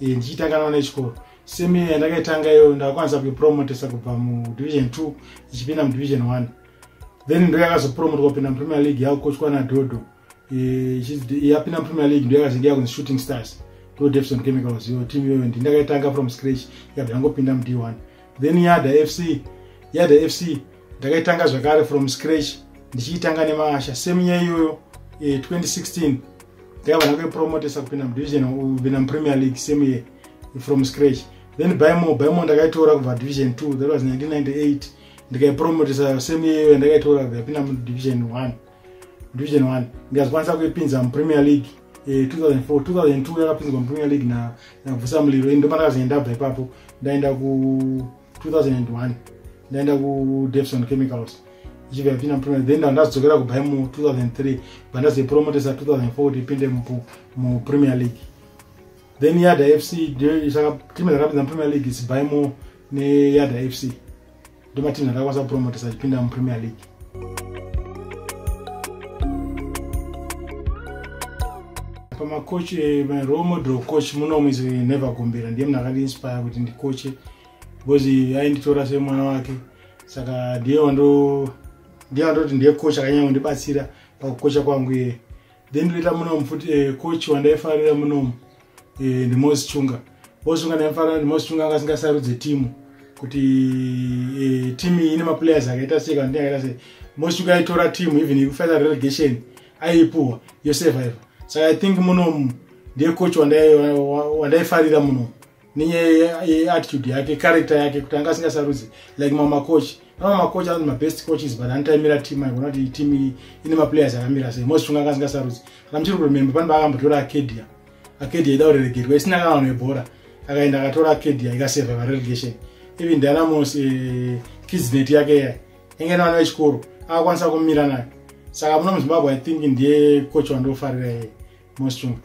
e, ndichiitanga naona chikoro semi yandakaitanga iyo ndakakwanisa kuipromotisa kubva mudivision two ichipinda mudivision one then ndoyakazopromotwa kupinda mupremier league yakukochwa nadodo yapinda eh, mupremier league ndoyakazenge yakunzi shooting stars to defson chemicals iyo team iyoyo ndi ndakaitanga from scratch yabva yangopinda mud one then yada fc yada fc ndakaitanga zvakare from scratch ndichiitanga nemaasha same year iyoyo 2016 eh, ndakabva ndakuipromotesa kupinda mudivision kupinda mupremier league same year from scratch then bymo bymo ndakaitora kubva division two that was 1998 ndikaipromotesa same year iyoyo ndakaitora kupinda mudivision one division 1 ndikazikwanisa kuipinza mupremier league 2004 2002 yakapinzwa mupremier league na nakuvusa muliro ini ndopandakazoenda bva ipapo ndaenda ku 2001 ndaenda ku devson chemicals ichibva yapinda mupremier then ndazodzokera kubva mu 2003 bva ndazoipromotesa 2004 ipinde mupremier league then yada fc timu rakapinza mupremier league sibhaimo neyada fc ndomatinhu akakwanisa kupromotesa achipinda mupremier league pamacoach eh, role model coach munomu is never gombera ndiye munhu akandiinspire kuti ndikoche because ainditora semwana wake saka ndiye wando ndiye wandoti ndiye coach akanyanya kundibatsira pakukocha kwangu iye then ndoita munomu futi eh, coach wandaifarira munomu eh, ndimosi chunga mosi chunga ndaimufarira ndimosi chunga anga asingasarudze timu kuti eh, timu iyi ine maplayers akaita sei kana ndiyakaita sei mosi chunga aitora timu even ikufaita relegation aipuhwa yosurviva saka i think munomu ndiye coach wandaifarira munomu neyeattitude yake character yake kuti anga asingasarudzi like mama coach pana mama coach anoti mabest coaches but anotaimira team aigona kuti team iyi ine maplayers akamira sei most funga anga asingasarudzi kana muchiri kurememba pane paakambotora acadia acadia ida kureregerwa isina kana vanhu vebhora akaenda akatora acadia ikaseva varelegation even dynamos eh, kidsnet yake yaya yange nevana vechikoro akakwanisa kumira nayo saka muno muzimbabwe i think ndiye coach wandofarira yeye Mostrom.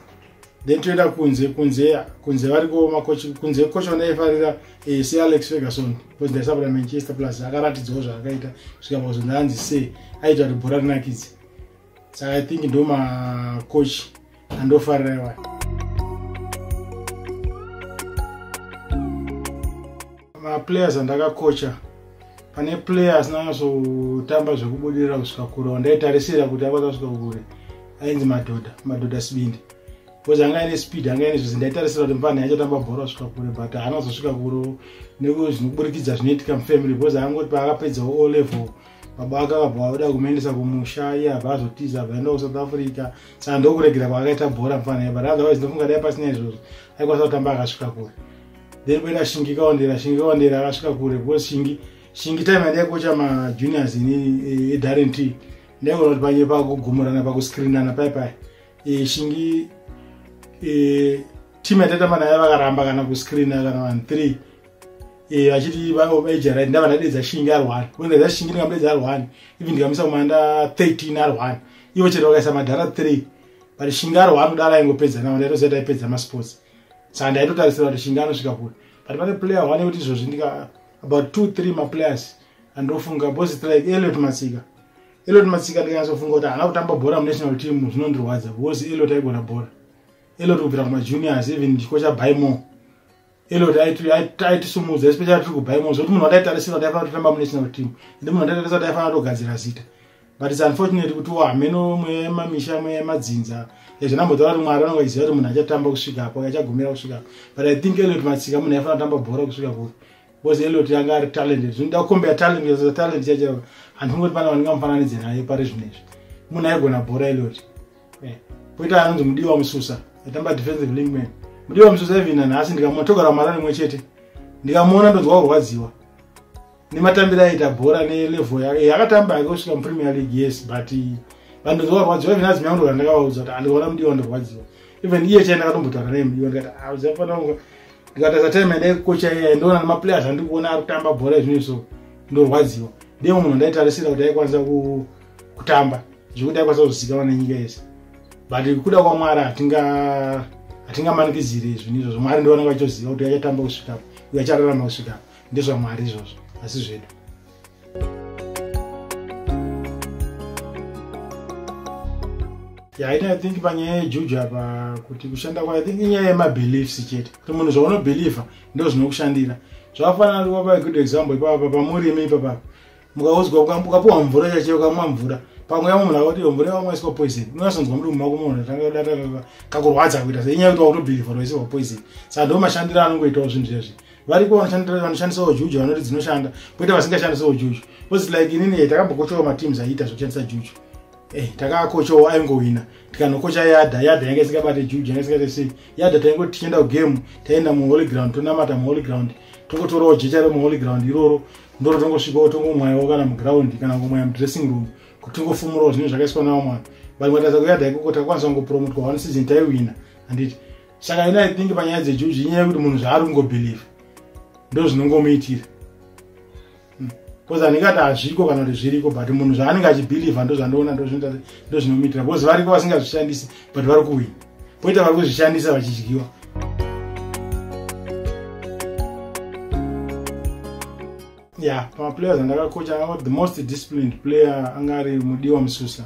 Then toenda kunze kunze kunze vari kuoma coach kunze coach wanaifarira eh, se Alex Ferguson because ndaisapota Manchester plus akaratidzawo zvaakaita kusvika pakuzonda anzi se aita kuti bhora rinakidze. So I think ndo ma coach andofarira iwayo. maplayers andakakocha pane player asina nyasotamba zvekubudirira kusvika kure wandaitarisira kuti akwanisa kusvika kure ainzi madhodha madhodha sibindi bcause anga ine speed anga ine zvese ndaitarisira kuti mupani achatamba bhora kusvika kure but haana kuzosvika kure nezvinoburikidza zvinoitika mufamily bcause angoti paakapedzawo o level baba ake akabva oda kumuendesa kumusha iye abva azotiza abva aenda kusouth africa saka ndokuregera kwaakaita bhora mupani but otherwise ndofunga dai pasina izvozvo aikwanisa kutamba akasvika kure then kuenda shingi kaondera shingi kaondera akasvika kure because shingi shingi time yandaikocha majuniors ini edarent eh, e ndaigona kuti panye pakugumurana pakuscreenana pai pai eh, shingi eh, team yatatamba nayo vakaramba kana kuscreena kana vanhu three vachiti vaejarit ndava ndadedza shingi ari one kuendedza shingi ndingamudedza ari one even ndikamisa kumanda 13 ari one ivo chete vakaisa madhara three but shingi ari one kudala ingopedza navo ndaitoziva taipedza masports saka ndaitotarisira kuti shinga anosvika kure but pane player one yekuti izvozvi ndika about two three maplayers andofunga bos strike eliot matsika eliot matsika ndikanyatsofunga kuti haana kutamba bhora munational team zvinondirwadza because eliot aigona bhora eliot kubvira kumajuniors even chiko chabymo eliot aitisumudza especially tiri kubymo zvekuti munhu wataitarisira kuti aifanira kutotamba munational team ende munhu wataitarisira kuti aifanira kutogadzira zita but it's unfortunate kuti wo hameno mweya yemamisha mweya yemadzinza yazvinambotaura kuti mwari vanonga iziva kuti munhu achatamba kusvika apo achagumira kusvika apo but i think eliot matsika munhu aifana kutamba bhora kusvika kupi because eliot yanga ari talented zvinoda kukombea talent yazoa talent chacho handingoti pana vanenge mufananidze naye pari zvino izvi munhu aigona bhora eliot eh, poita anonzi mudiwa mususa atamba defensive linkman mudiwa mususa even nanhasi ndikamuona togarwa mara rimwe chete ndikamuona ndonzwa kurwadziwa nematambiro aita bhora nelevel yake yakatamba yake kusvika mupremier league yes but vanhu ndovarwadziwa even azimai ndo vandakavaudza kuti andiona mudiwa vandirwadziwa even iye chai ndakatombotaura naye mudiwa ndikati aziafanaa ah, ndikatasa time yandai kukocha iya ndoona nemaplayers andikuona ari kutamba bhora izvino so ndorwadziwa ndiye munhu ndaitarisira kuti aikwanisa kutamba zvekuti aikwanisa kuzikanwa nenyika yese but kuda kwamwari hatingamanikidzire izvini izvozvo mwari ndivanenge vachoziva kuti achatamba kusvikapo uye achararama kusvikapo ndezvamwari izvozvo asi zvedu yaini i think panyaya yejuju apa kuti kushanda kwa i think inyaya yemabeliefs chete kuti munhu zvaunobelievha ndo zvinokushandira zvakafanana wapa good example ipapa pamurimi ipapapa mukaudzwa ukapuwa mvura chache ukamwa mvura pamwe yamwe munhu akati mvura yawamwaiswa poison unasonzwa mudumbu mako munhu tangadata kakurwadza kuita se inyaya kuti wakutobhirivha roisirwa poison saka ndo mashandiro anongoitawo zvinhu zvezvi variko vanoshandisawo juju vanoti dzinoshanda poita vasingashandisawo juju bcause like inini eh, takambokotyowa mateams aiita zvekushandisa juju Eh, takakochawo aingohwina tikanokocha yadha yadha yanga isingabate juju yanga isingate sei yadha taingoti tichienda kugame taienda muholy ground tonamata muholy ground tokotorawo jecha remuholy ground iroro ndoro tongosvikawo tongomwayawo kana muground kana kumwaya mudressing room kuti tingofumurawo zvinhu zvakaiswa nawo mwana but matadza kuyadha ikoko takwanisa kungopromotwa one season taiwina handiti saka ina i think panyaya dzejuji inyaya yekuti munhu zvaari kungobelieve ndo zvinongomuitira bcause hmm. andingati hazviko kana kuti zviriko but munhu zvaanenge achibhilivha ndozvandoona ndozvinomitira bcause variko vasingazvishandisi but vari kuwina poita vari kuzvishandisa vachidyiwa ya pamaplayers andakakocha the most disciplined player anga ari mudiwa mususa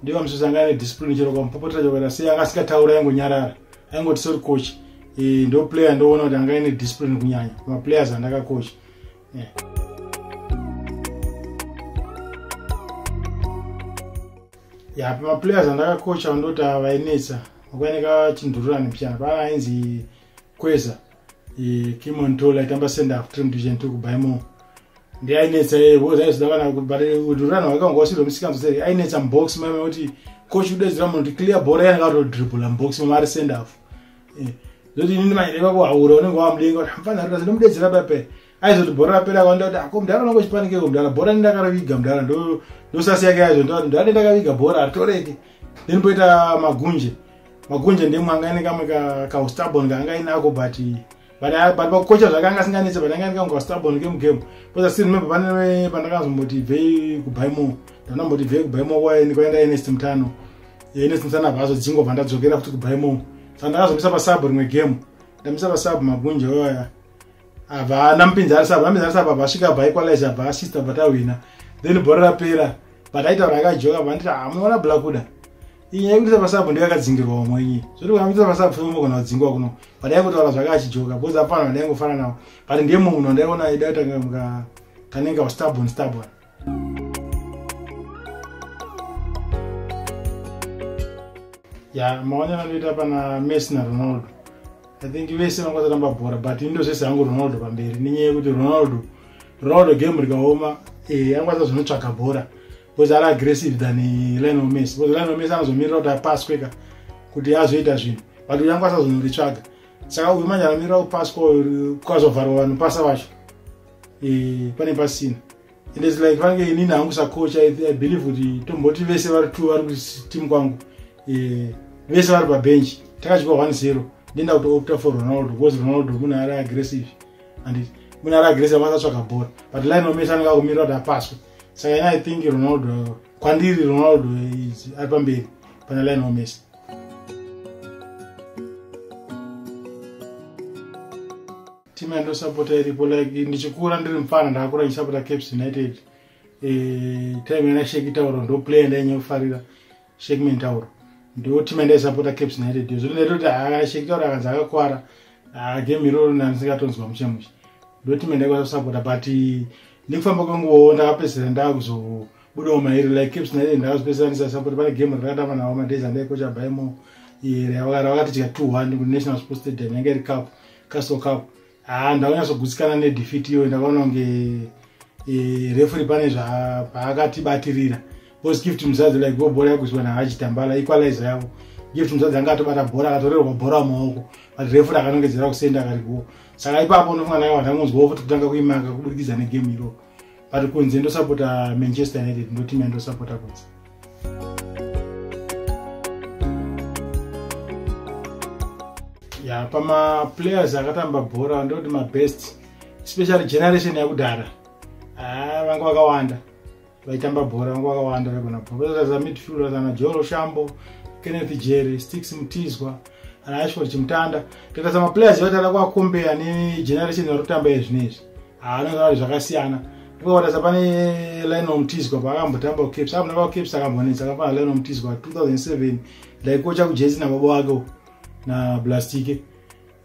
ndiwa mususa anga ane discipline chero kamupopotera chokuita sei anga asikataura yangonyarara aingoti sori kochi e, ndo player ndoona kuti anga ine discipline kunyanya pamaplayers andakakocha ya pamaplayers andakakocha vandoti vainetsa makwaineka chindururani pyana paana ainzi kweza kimontola itamba senda kutiri mudivision two kubaimo ndi ainetsa iye because aizoda kana but udururani wakanga wasiro misikanzo seri ainetsa mubox mame kuti coach udedzira munhu kuti clear bora yanga atodribula mubox mama ari send off eh, zoti inini manje ivavo haura unenge wamudenga kuti hamfanha rikasi ndomudedzera bape aizoti bhora rapera akaonda kuti ako mdhara unongo chipanikeko mdhara bhora nendakaraviga mdhara ndosasi yake yaizvo ndati mdhara nendakaviga bhora haritoreke then poita magunje magunje ndemwanga ine kamwe kaustabon kaanga inako but but uh, but vakukocha zvakanga asinganetse but anga ndikanga stubborn game game because i still remember pane pandakanzomboti ibvei kubaimo ndandamboti ibvei kubaimo kwaini kwaenda enest mutano enest mutano apa azodzingo vandadzokera futi kubaimo saka ndakazomisa pasub rimwe game ndamisa pasub magunja oya ava namupinzi ari sub namupinzi ari sub ava asvika bai kwalaiza ava asista vatawina then bhora rapera but aitaura akajoka vanditi hamuona ah, blakuda iyi nyaya yekuita masabu ndiyo yakadzingirwa vamwe inyi zvoti kana kuita masabu fema kana kudzingwa kuno padai kutaura zvake achijoka bcause apana vandai ngofana navo but ndiye mumwe munhu wandaiona aida kutanga kanenge wastabon stabon ya maonero anoita pana messi naronaldo i think vese vangakwanisa kutamba bhora but indo zvese hangu ronaldo pamberi nenyaya yekuti ronaldo ronaldo game rikaoma eh, angakwanisa zvinotsvaga bhora because ari aggressive than lionel messi because lionel messi anozomirira kuti apaswe ka kuti azoita zvinhu but uyangu asazonyoritsvaga saka uyu manje anomirira kupasi kwazovharwa vanhu pasa vacho e, pane pasina and its like vange inini hangu sakocha i believe kuti tomboti vese vari two vari kuteam kwangu e, vese vari pabenchi takachikwa one zero ndenda kuti opta for ronaldo because ronaldo munhu ari aggressive and munhu ari aggressive vasatsvaga bhora but lionel messi anenge akumirira kuti apaswe saka ina i think ronaldo kwandiri ronaldo ari pamberi pana line wamesi timu yandosapota iripo like ndichikura ndiri mfana ndakakura ndichisapota caps united eh, time yanashekitaura ndoplayer ndainyaufarira sheki mentauro ndiwo team yandaisapota caps naye redio zvino ndaita kuti ah, sheki tauro akanzi akakwara ah, game iroro nandisingatonzwa mushe mushe ndo team yandaikwanisa kusapota but nekufamba kwenguvawo ndakapedzisira ndaakuzobudawo mairi like caps naye ndakazopedzisira ndisasapota pane game rakatamba nawo madays andaikocha baimo ravakatidya two one kunational sports stadium yanga iri cup castle cup haa ndaunyatsogutsikana nedefeat iyoyo ndakaona kunge e, refuri pane zvapaakatibatirira bcause gift muzadzi like go bhora yakuziwa nahachitambala equalizer yavo gift muzadzi anga atobata bhora akatorerwa bhora mumaoko but refuri akanongedzera kusenda akariwo saka ipapo unofunga nayo vanhu angonzwawo futi kutanga kuimaka kubudikidza negame iroo but kunze ndosapota manchester united ndotimu yandosapota kunze ya pamaplayers akatamba bhora ndoti mabest especially generation yakudhara ah, vanga vakawanda vaitamba bhora vanga vakawanda vaigona bhoraza midfielder ana joro shambo kenneth jerry stix mutizwa ana ashford chimutanda tikatarisa maplayers vatara kuakombeya negeneration varikutamba izvi nezvi haanozari zvakasiyana ndikawatasa pane lionel mtizwa paakambotamba kucaps apo ndapa kucaps akambonetsa akafana lionel mtizwa 2007 ndaikocha kujesi nababa wake na blastike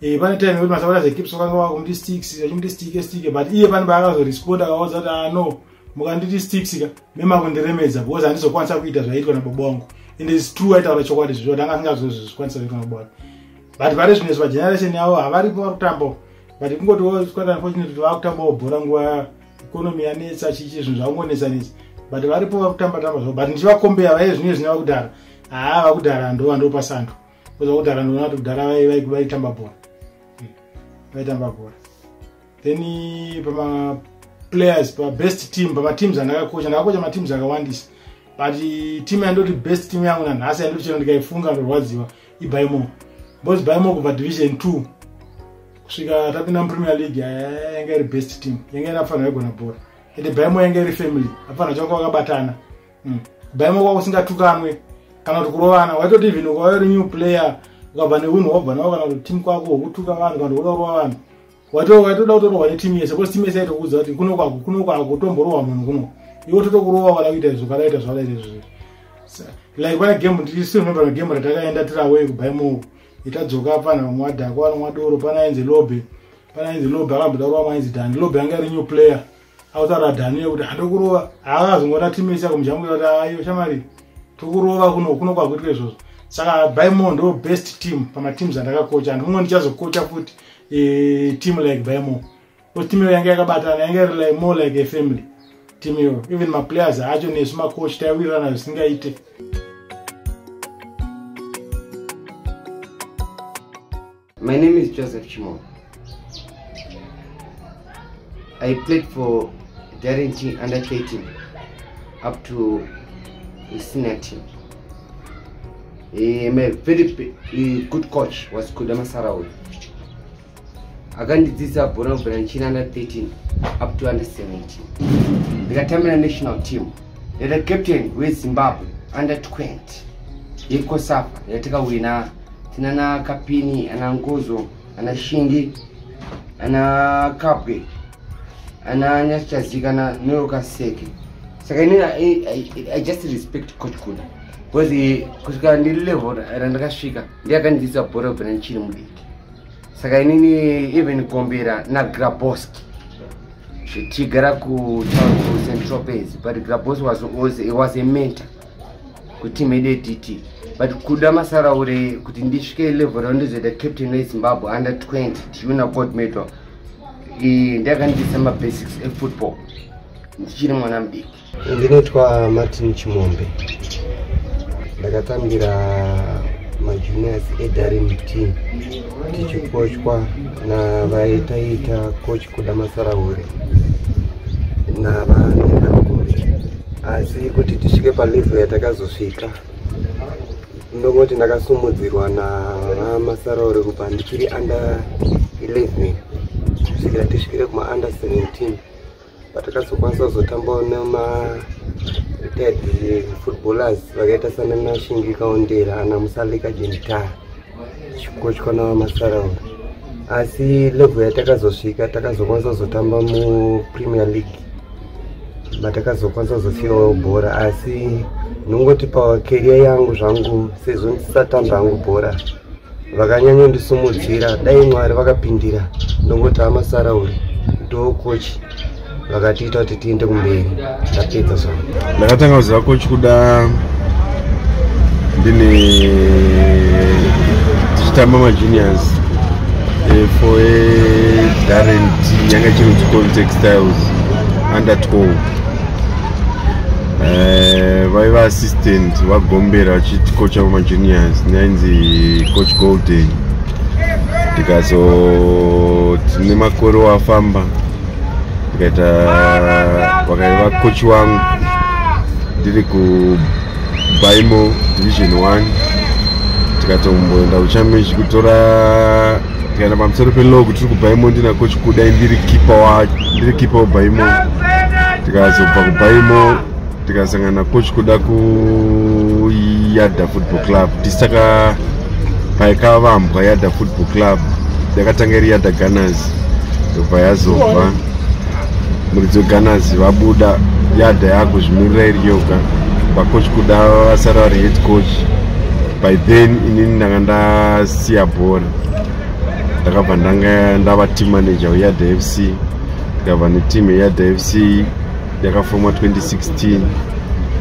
Eh, pane time yekuti masapota zekips vakanga vakumuti sticks vachimuti stike stike but iye pane paakazoresponda akaudza kuti ano ah, mukanditi sticks ka memakundiremedza because handizokwanisa kuita zvaiitwa nababa wangu and is true aitaura chokwadi zvizvo kuti anga asingazozvikwanisa zvaitwa nababa wake but pari zvino izvo vageneration yavo havaripo vari kutambawo but kungoti woswera unfortunate kuti vakutambawo bhora nguva economy yanetsa chichi zvinhu zvakungonetsa netsa but varipo vakutamba tamba zvavo but ndichivakombeya vaive zvinye zvine vakudhara haa vakudhara ndova ndopasando koza kudhara ndoona kuti kudhara vaitamba bhora hmm. vaitamba bhora then pama players pabest team pamateams andakakocha ndakakocha mateams akawandisa but team yandoti best team yangu nanhasi yandoti chero ndikaifunga ndorwadziwa ibai more boys bai more kubva division 2 kusvika tapinda mupremier league yanga iri best team yanga iri afanira igona bhora ende bai more yanga iri family afanira changa kwakabatana hmm. bai more kwakusingatukanwe kana kuti kurovana waitoti even ukauya uri new player ukabva neunhu wabva nawo kana kuti team kwako wokutuka vanhu kana kuti unorova vanhu wato waitoda kutorohwa netimu yese bcause timu yese yaitokuudza kuti kuno kwako kuno kwako tomborohwa munhu kuno iwo totokurova wada kuita izvo kadaita zvadaita izvozvo like pane game ndisinomember na game ratakaenda tiri away kubaimoko itadzoka pana vamwe wadhako vana mwadoro pana ainzi lobe pana ainzi lobe akamboda kurova mainzi dani lobe anga ari new player autaura dhani yekuti handokurova haazongona timesi yako mujamu kuti ayo shamari tokurova kuno kuno kwakuitwa izvozvo saka baimo ndo best team pamateams andakakocha and mumwe ndichazokocha futi e, team like baimo bcause team iyo yange yakabatana yange iri like more like a family team iyo even maplayers acho nesu macoach taiwirirana zvisingaite My name is Joseph Chimo. I played for Darren T under 18 up to the senior team. Eh, my very eh, good coach was Kudama Sarawi. akandidzidza bhora kubvira ndichiri under 13 up to under 17 ndikatambira national team ndata captain wezimbabwe under 20 yekosafa yatakawina tinana kapini ana nkozo ana shingi ana kapwe ana nyasichazikana norokaseke saka ini I, I, i just respect coach kuda because kusvika ndiri level randakasvika ndiye akandidzidza bhora kubva nandichiri mudiki saka inini even kombera nagraboski tichigara kutown central base but graboski was, was, was a mentor kuteam yedu yedt but kuda masaraure kuti ndisvike level rao ndizoita captain wezimbabwe under 20 tiuna board metal ndakandisa mabasics efootball ndichiri mwana mudiki ndinoitwa martin chimombe ndakatambira majuniors edarim team tichikochwa navaitaiita coach kuda masarahure navanhu vanokuti asi kuti tisvike palevo yatakazosvika ndongoti ndakasumudzirwa namasarahure kubva ndichiri under 11 kusvikira tisvikire kuma under 17 patakazokwanisa kuzotambawo nema retired footballers vakaita sanana shingika ondera ana musalika jentara chikochwa navamasarawa asi level yatakazosvika takazokwanisa kuzotamba mupremier league matakazokwanisa kuzosiyawo bhora asi ndingoti pakeriya yangu zvangu sezvo ndisatamba hangu bhora vakanyanya ndisumudzira dai mwari vakapindira ndongoti amasarauri ndokochi vakatiita kuti tiende kumberi tapedza zva ndakatanga kuziva kochi kuda ndine tichitamba majuniors eh, for darent yanga chinonzi contextiles under 12 eh, vaiva uh, assistant vagombera vachitikocha vamajuniors nainzi coach golden ndikazoti nemakore wafamba ndikaita vakaiva kochi wangu ndiri kubaimo division 1 tikatomboenda kuchambechi kutora tikaenda pamusoro pelog tiri kubaimo ndina kochi kudai ndiri kipa ndiri kipa webaimo tikazobva kubaimo tikasangana coach kuda kuyada football club tisaka paikavambwa yada football club yakatanga iri yada gunners yobva yazobva muridzi wegunners vabuda yada yakuzvimirira iri yoga vacoach kuda vasara vari head coach by then inini ndanga ndasiya bhora ndakabva ndanga ndava team manager weyada fc ndikabva neteam yeyada fc yakafomwa 2016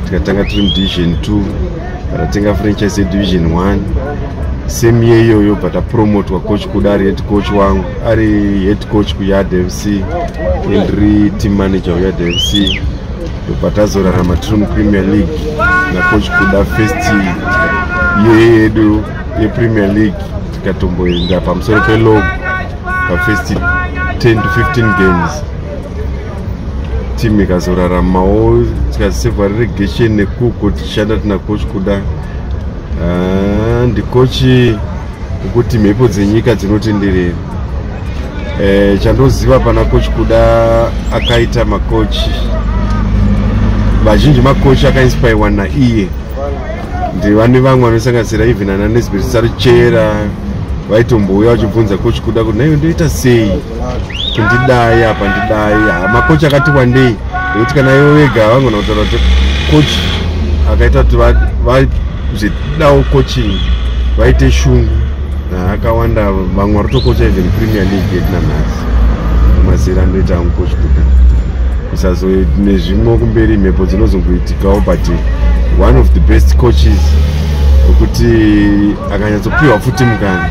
tikatanga tiri mudivision 2 takatenga franchise yedivision 1 same year iyoyo but apromotwa coach kuda ari head coach wangu ari head coach kuyard fc and ri team manager uyard fc ndopatazorarama tiri mupremier league nacoach kuda first year yedu yepremier league tikatomboenda pamusoro pelog pafirst 10 to 15 games team ikazoraramawo tikazisevha reregation nekuko tichishanda tina coach kuda ah, ndikochi ukuti mhepo dzenyika dzinotenderera eh, chandoziva pana coach kuda akaita macoach vazhinji macoach akainspirwa naiye ndivane vamwe vanosanganisira even ana nesbert sarichera vaitombouya vachibvunza coach kuda kuti naiyo ndoita sei tindidai apa ndidai ha makochi akati wandei nekuti kana ivo vega vangona kutaura kuti kochi akaita kuti vazvidawo coaching vaite shungu akawanda vamwe vari kutokocha even premier league yedu nanhasi mazera anoita angu kochi kuda kusazo nezvimwe kumberi mhepo dzinozongoitikawo but one of the best coaches wekuti akanyatsopiwa futi mukana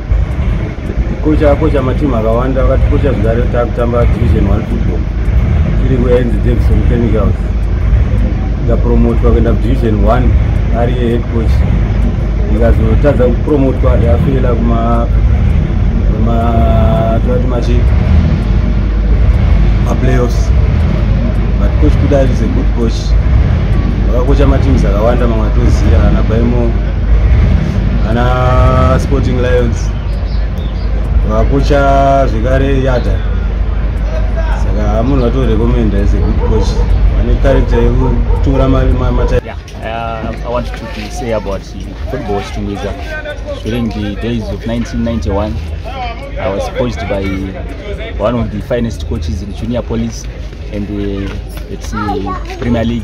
kocha kocha matimu akawanda vakati kocha zvigare takutamba division one football tiri kuenzi davison chemicals ikapromotwa kuenda kudivision one ari yehead coach ikazotadza kupromotwa yafela kuma tati machi maplayoffs but coach kuda is a good coach vakakocha matims akawanda mamwe atoziva ana baimo ana sporting lions vakucha zvekare yada saka munhu vatorekomenda as a good coach vane character yekutora mata Uh, I want to say about football Chitungwiza. During the days of 1991, I was coached by one of the finest coaches in Junior Police and uh, it's the uh, Premier League.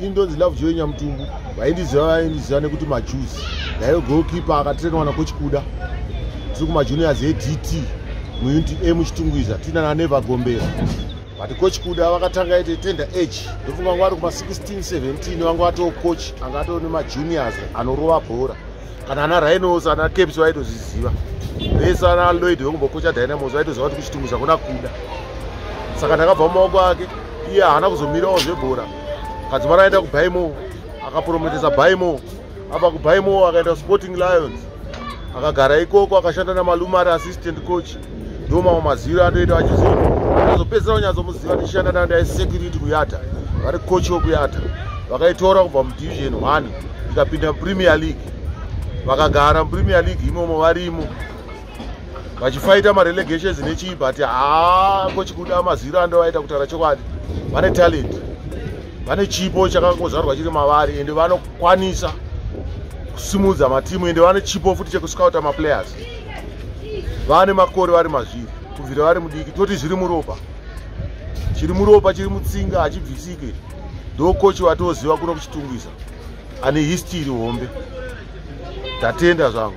ini ndonzi love joy nyamutumbu vaindiziva vaindiziva nekuti majuzi ndaive golkipe akatrenwa nakochikuda tiri kumajuniors edt muunit a muchitungwiza tiina naneva gombera but coach kuda vakatanga ite tender age ndofunga vanga vari kuma16 17 vanga vatoo coach anga atoo nemajuniors anorova bhora kana ana rhinos ana caps vaitozviziva vese ana lloyd vekumbokocha dynamos vaitoziva kuti kuchitunguza kuna kuda saka ndakabva mumaoko ake iye haana kuzomirawo zvebhora kadzimara akaenda kubaimo akaprometesa baimo apa kubaimo akaenda kusporting lions akagara ikoko akashanda namalume ari assistant coach ndo mamwe maziro anoita vachiziva azopedzisira kunyatsomuziva tichishanda nandai security kuyata vari coach wekuyata vakaitora kubva mudivision one ikapinda mupremier league vakagara mupremier league imomo varimo vachifaita marelegations nechii but haa ko chikuda maziro andovaita kutaura chokwadi vane talent vane chipo chakangozvarwa chiri mavari ende vanokwanisa kusimudza matimu ende vane chipo futi chekuscouta maplayers vane makore vari mazviri kubvira vari mudiki toti zviri muropa chiri muropa chiri mutsinga hachibvisike ndokochi vatoziva kuno kuchitungisa ane histiri hombe tatenda zvangu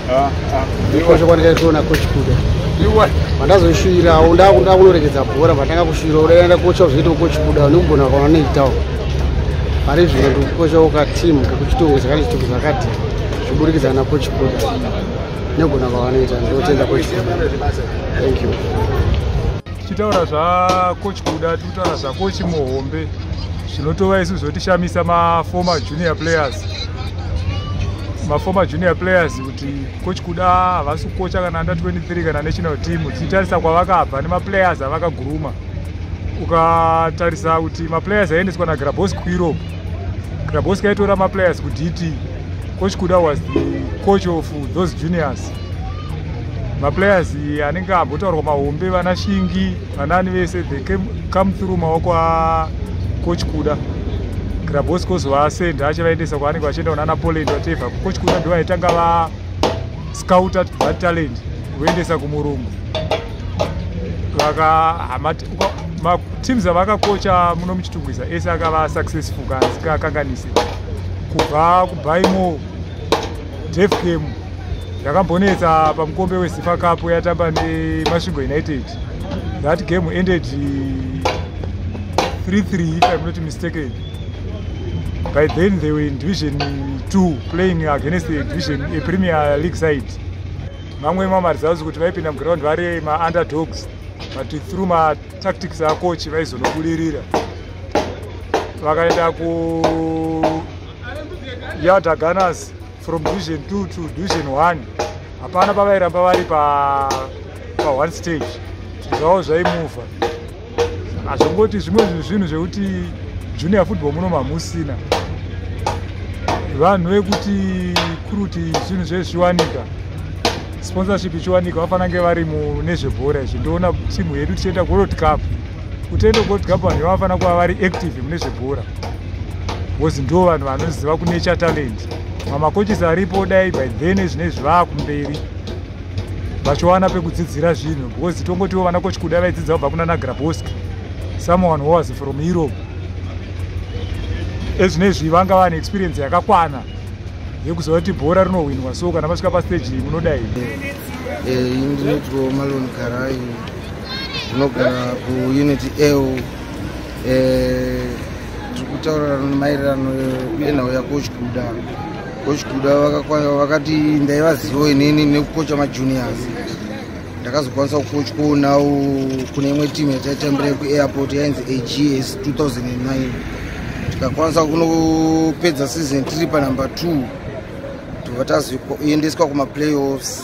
chokwadi chaitoona coach kuda vandazoshuvirawo ndakuda kunoregedza bhora vatanga kushuvira udaenda kocha uzoita coach kuda nekugona kwavanoitawo pari zvino ndikukochawo ka team kekuchitongo chakati chitongo zvakati zviburikidza na coach kuda negona kwavanoita ndotenda coach kuda thank you tichitaura zvakochi kuda tiri kutaura zvakochi muhombe zvinotova isu zvotishamisa maformer junior players maformer junior players kuti kochi kuda havasi kukocha kana under 23 kana national team tichitarisa kwavakabva nemaplayers avakaguruma ukatarisa kuti maplayers aiendeswa nagrabos kueurope grabos kaitora maplayers kudt kochi kuda was the coach of those juniors maplayers anenge ambotaurwa mahombe vana shingi vanani vese they came, come through maoko acoach kuda grabos kozovasenda achivaendesa kwaanenge vachienda kunana poland vatevha coach kuda ndo vaitanga va scout at bad talent kuendesa kumurungu teams avakakocha muno muchitungwiza ese akava successful kanzi kakanganise kubva kubaimo def game yakambonetsa pamukombe wezifa cup yatamba nemasvingo united that game ended 33 if i'm not mistaken by then they were in division 2 playing against the division a premier league side mamwe mamaresults kuti vaipinda muground vari maunderdogs but through matactics acoach vaizonobudirira vakaenda ku ya daganas from division 2 to division 1 hapana pavairamba vari pa pa one stage zvavo zvaimuvha hazvongoti zvimwe zvinhu zvekuti junior football muno mamusina vanhu vekuti kuri kuti zvinhu zvezviwanika sponsorship ichiwanika vafanange vari munezvebhora izvi ndoona timu yedu tichienda kuworld cup kutendo gold cup vanhu vanofanira kuva vari active mune zvebhora bcause ndo vanhu vanoziva kunature talent mamakoches aripo dai by then zvine zvivaa kumberi vachiwana pekudzidzira zvinhu bcause tongotiwo vana koch kuda vaidzidza kubva kuna nagrabosk someone who was from europe ezvine zvi vanga vane experience yakakwana yekuziva kuti bhora rinohwinwa so kana vasvika pasteji iyi munodai eh, tinogara kuunit eu eh, tiri kutaurira maererano nenhau yakochikuda kochikuda vakati ndaivazivo inini nekukocha majuniors ndakazokwanisa kukochwawo nawo kune imwe timu yataitambira kuairport yainzi ags 2009 tikakwanisa kunopedza season tiri panumber two tobva tazoendeswa kumaplayoffs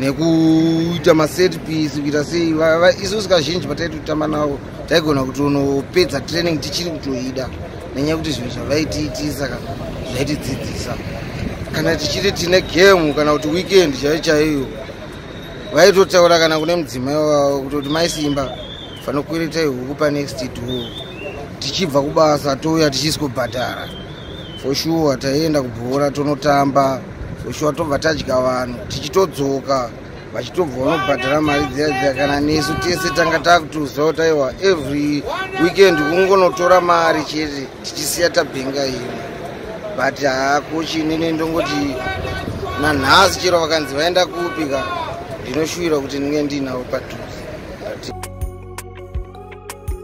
nekuita maset piece kuita sei isusu kazhinji pataitotamba navo taigona kutonopedza training tichiri kutoida nenyaya yekuti zvinhu zvavaitiitii saka zvaitidzidzisa kana tichiti tine game kana kuti weekend chaiyo chaiyo vaitotaura kana kune mudzimai wavo kutoti maisimba fanokwereta ihuku panext door tichibva kubasa touya tichisikobhadhara for sure taienda kubhora tonotamba soshuwa tobva tadya vanhu tichitodzoka vachitobva vanobhadhara mari dziya dziya kana nesu tese tanga takutoziva kuti aiwa every weekend kungonotora mari chete tichisiya tabhenga imwe but hako chinene ndongoti nanhasi chero vakanzi vaenda kupi ka ndinoshuvira kuti ndinge ndiinavo padhuze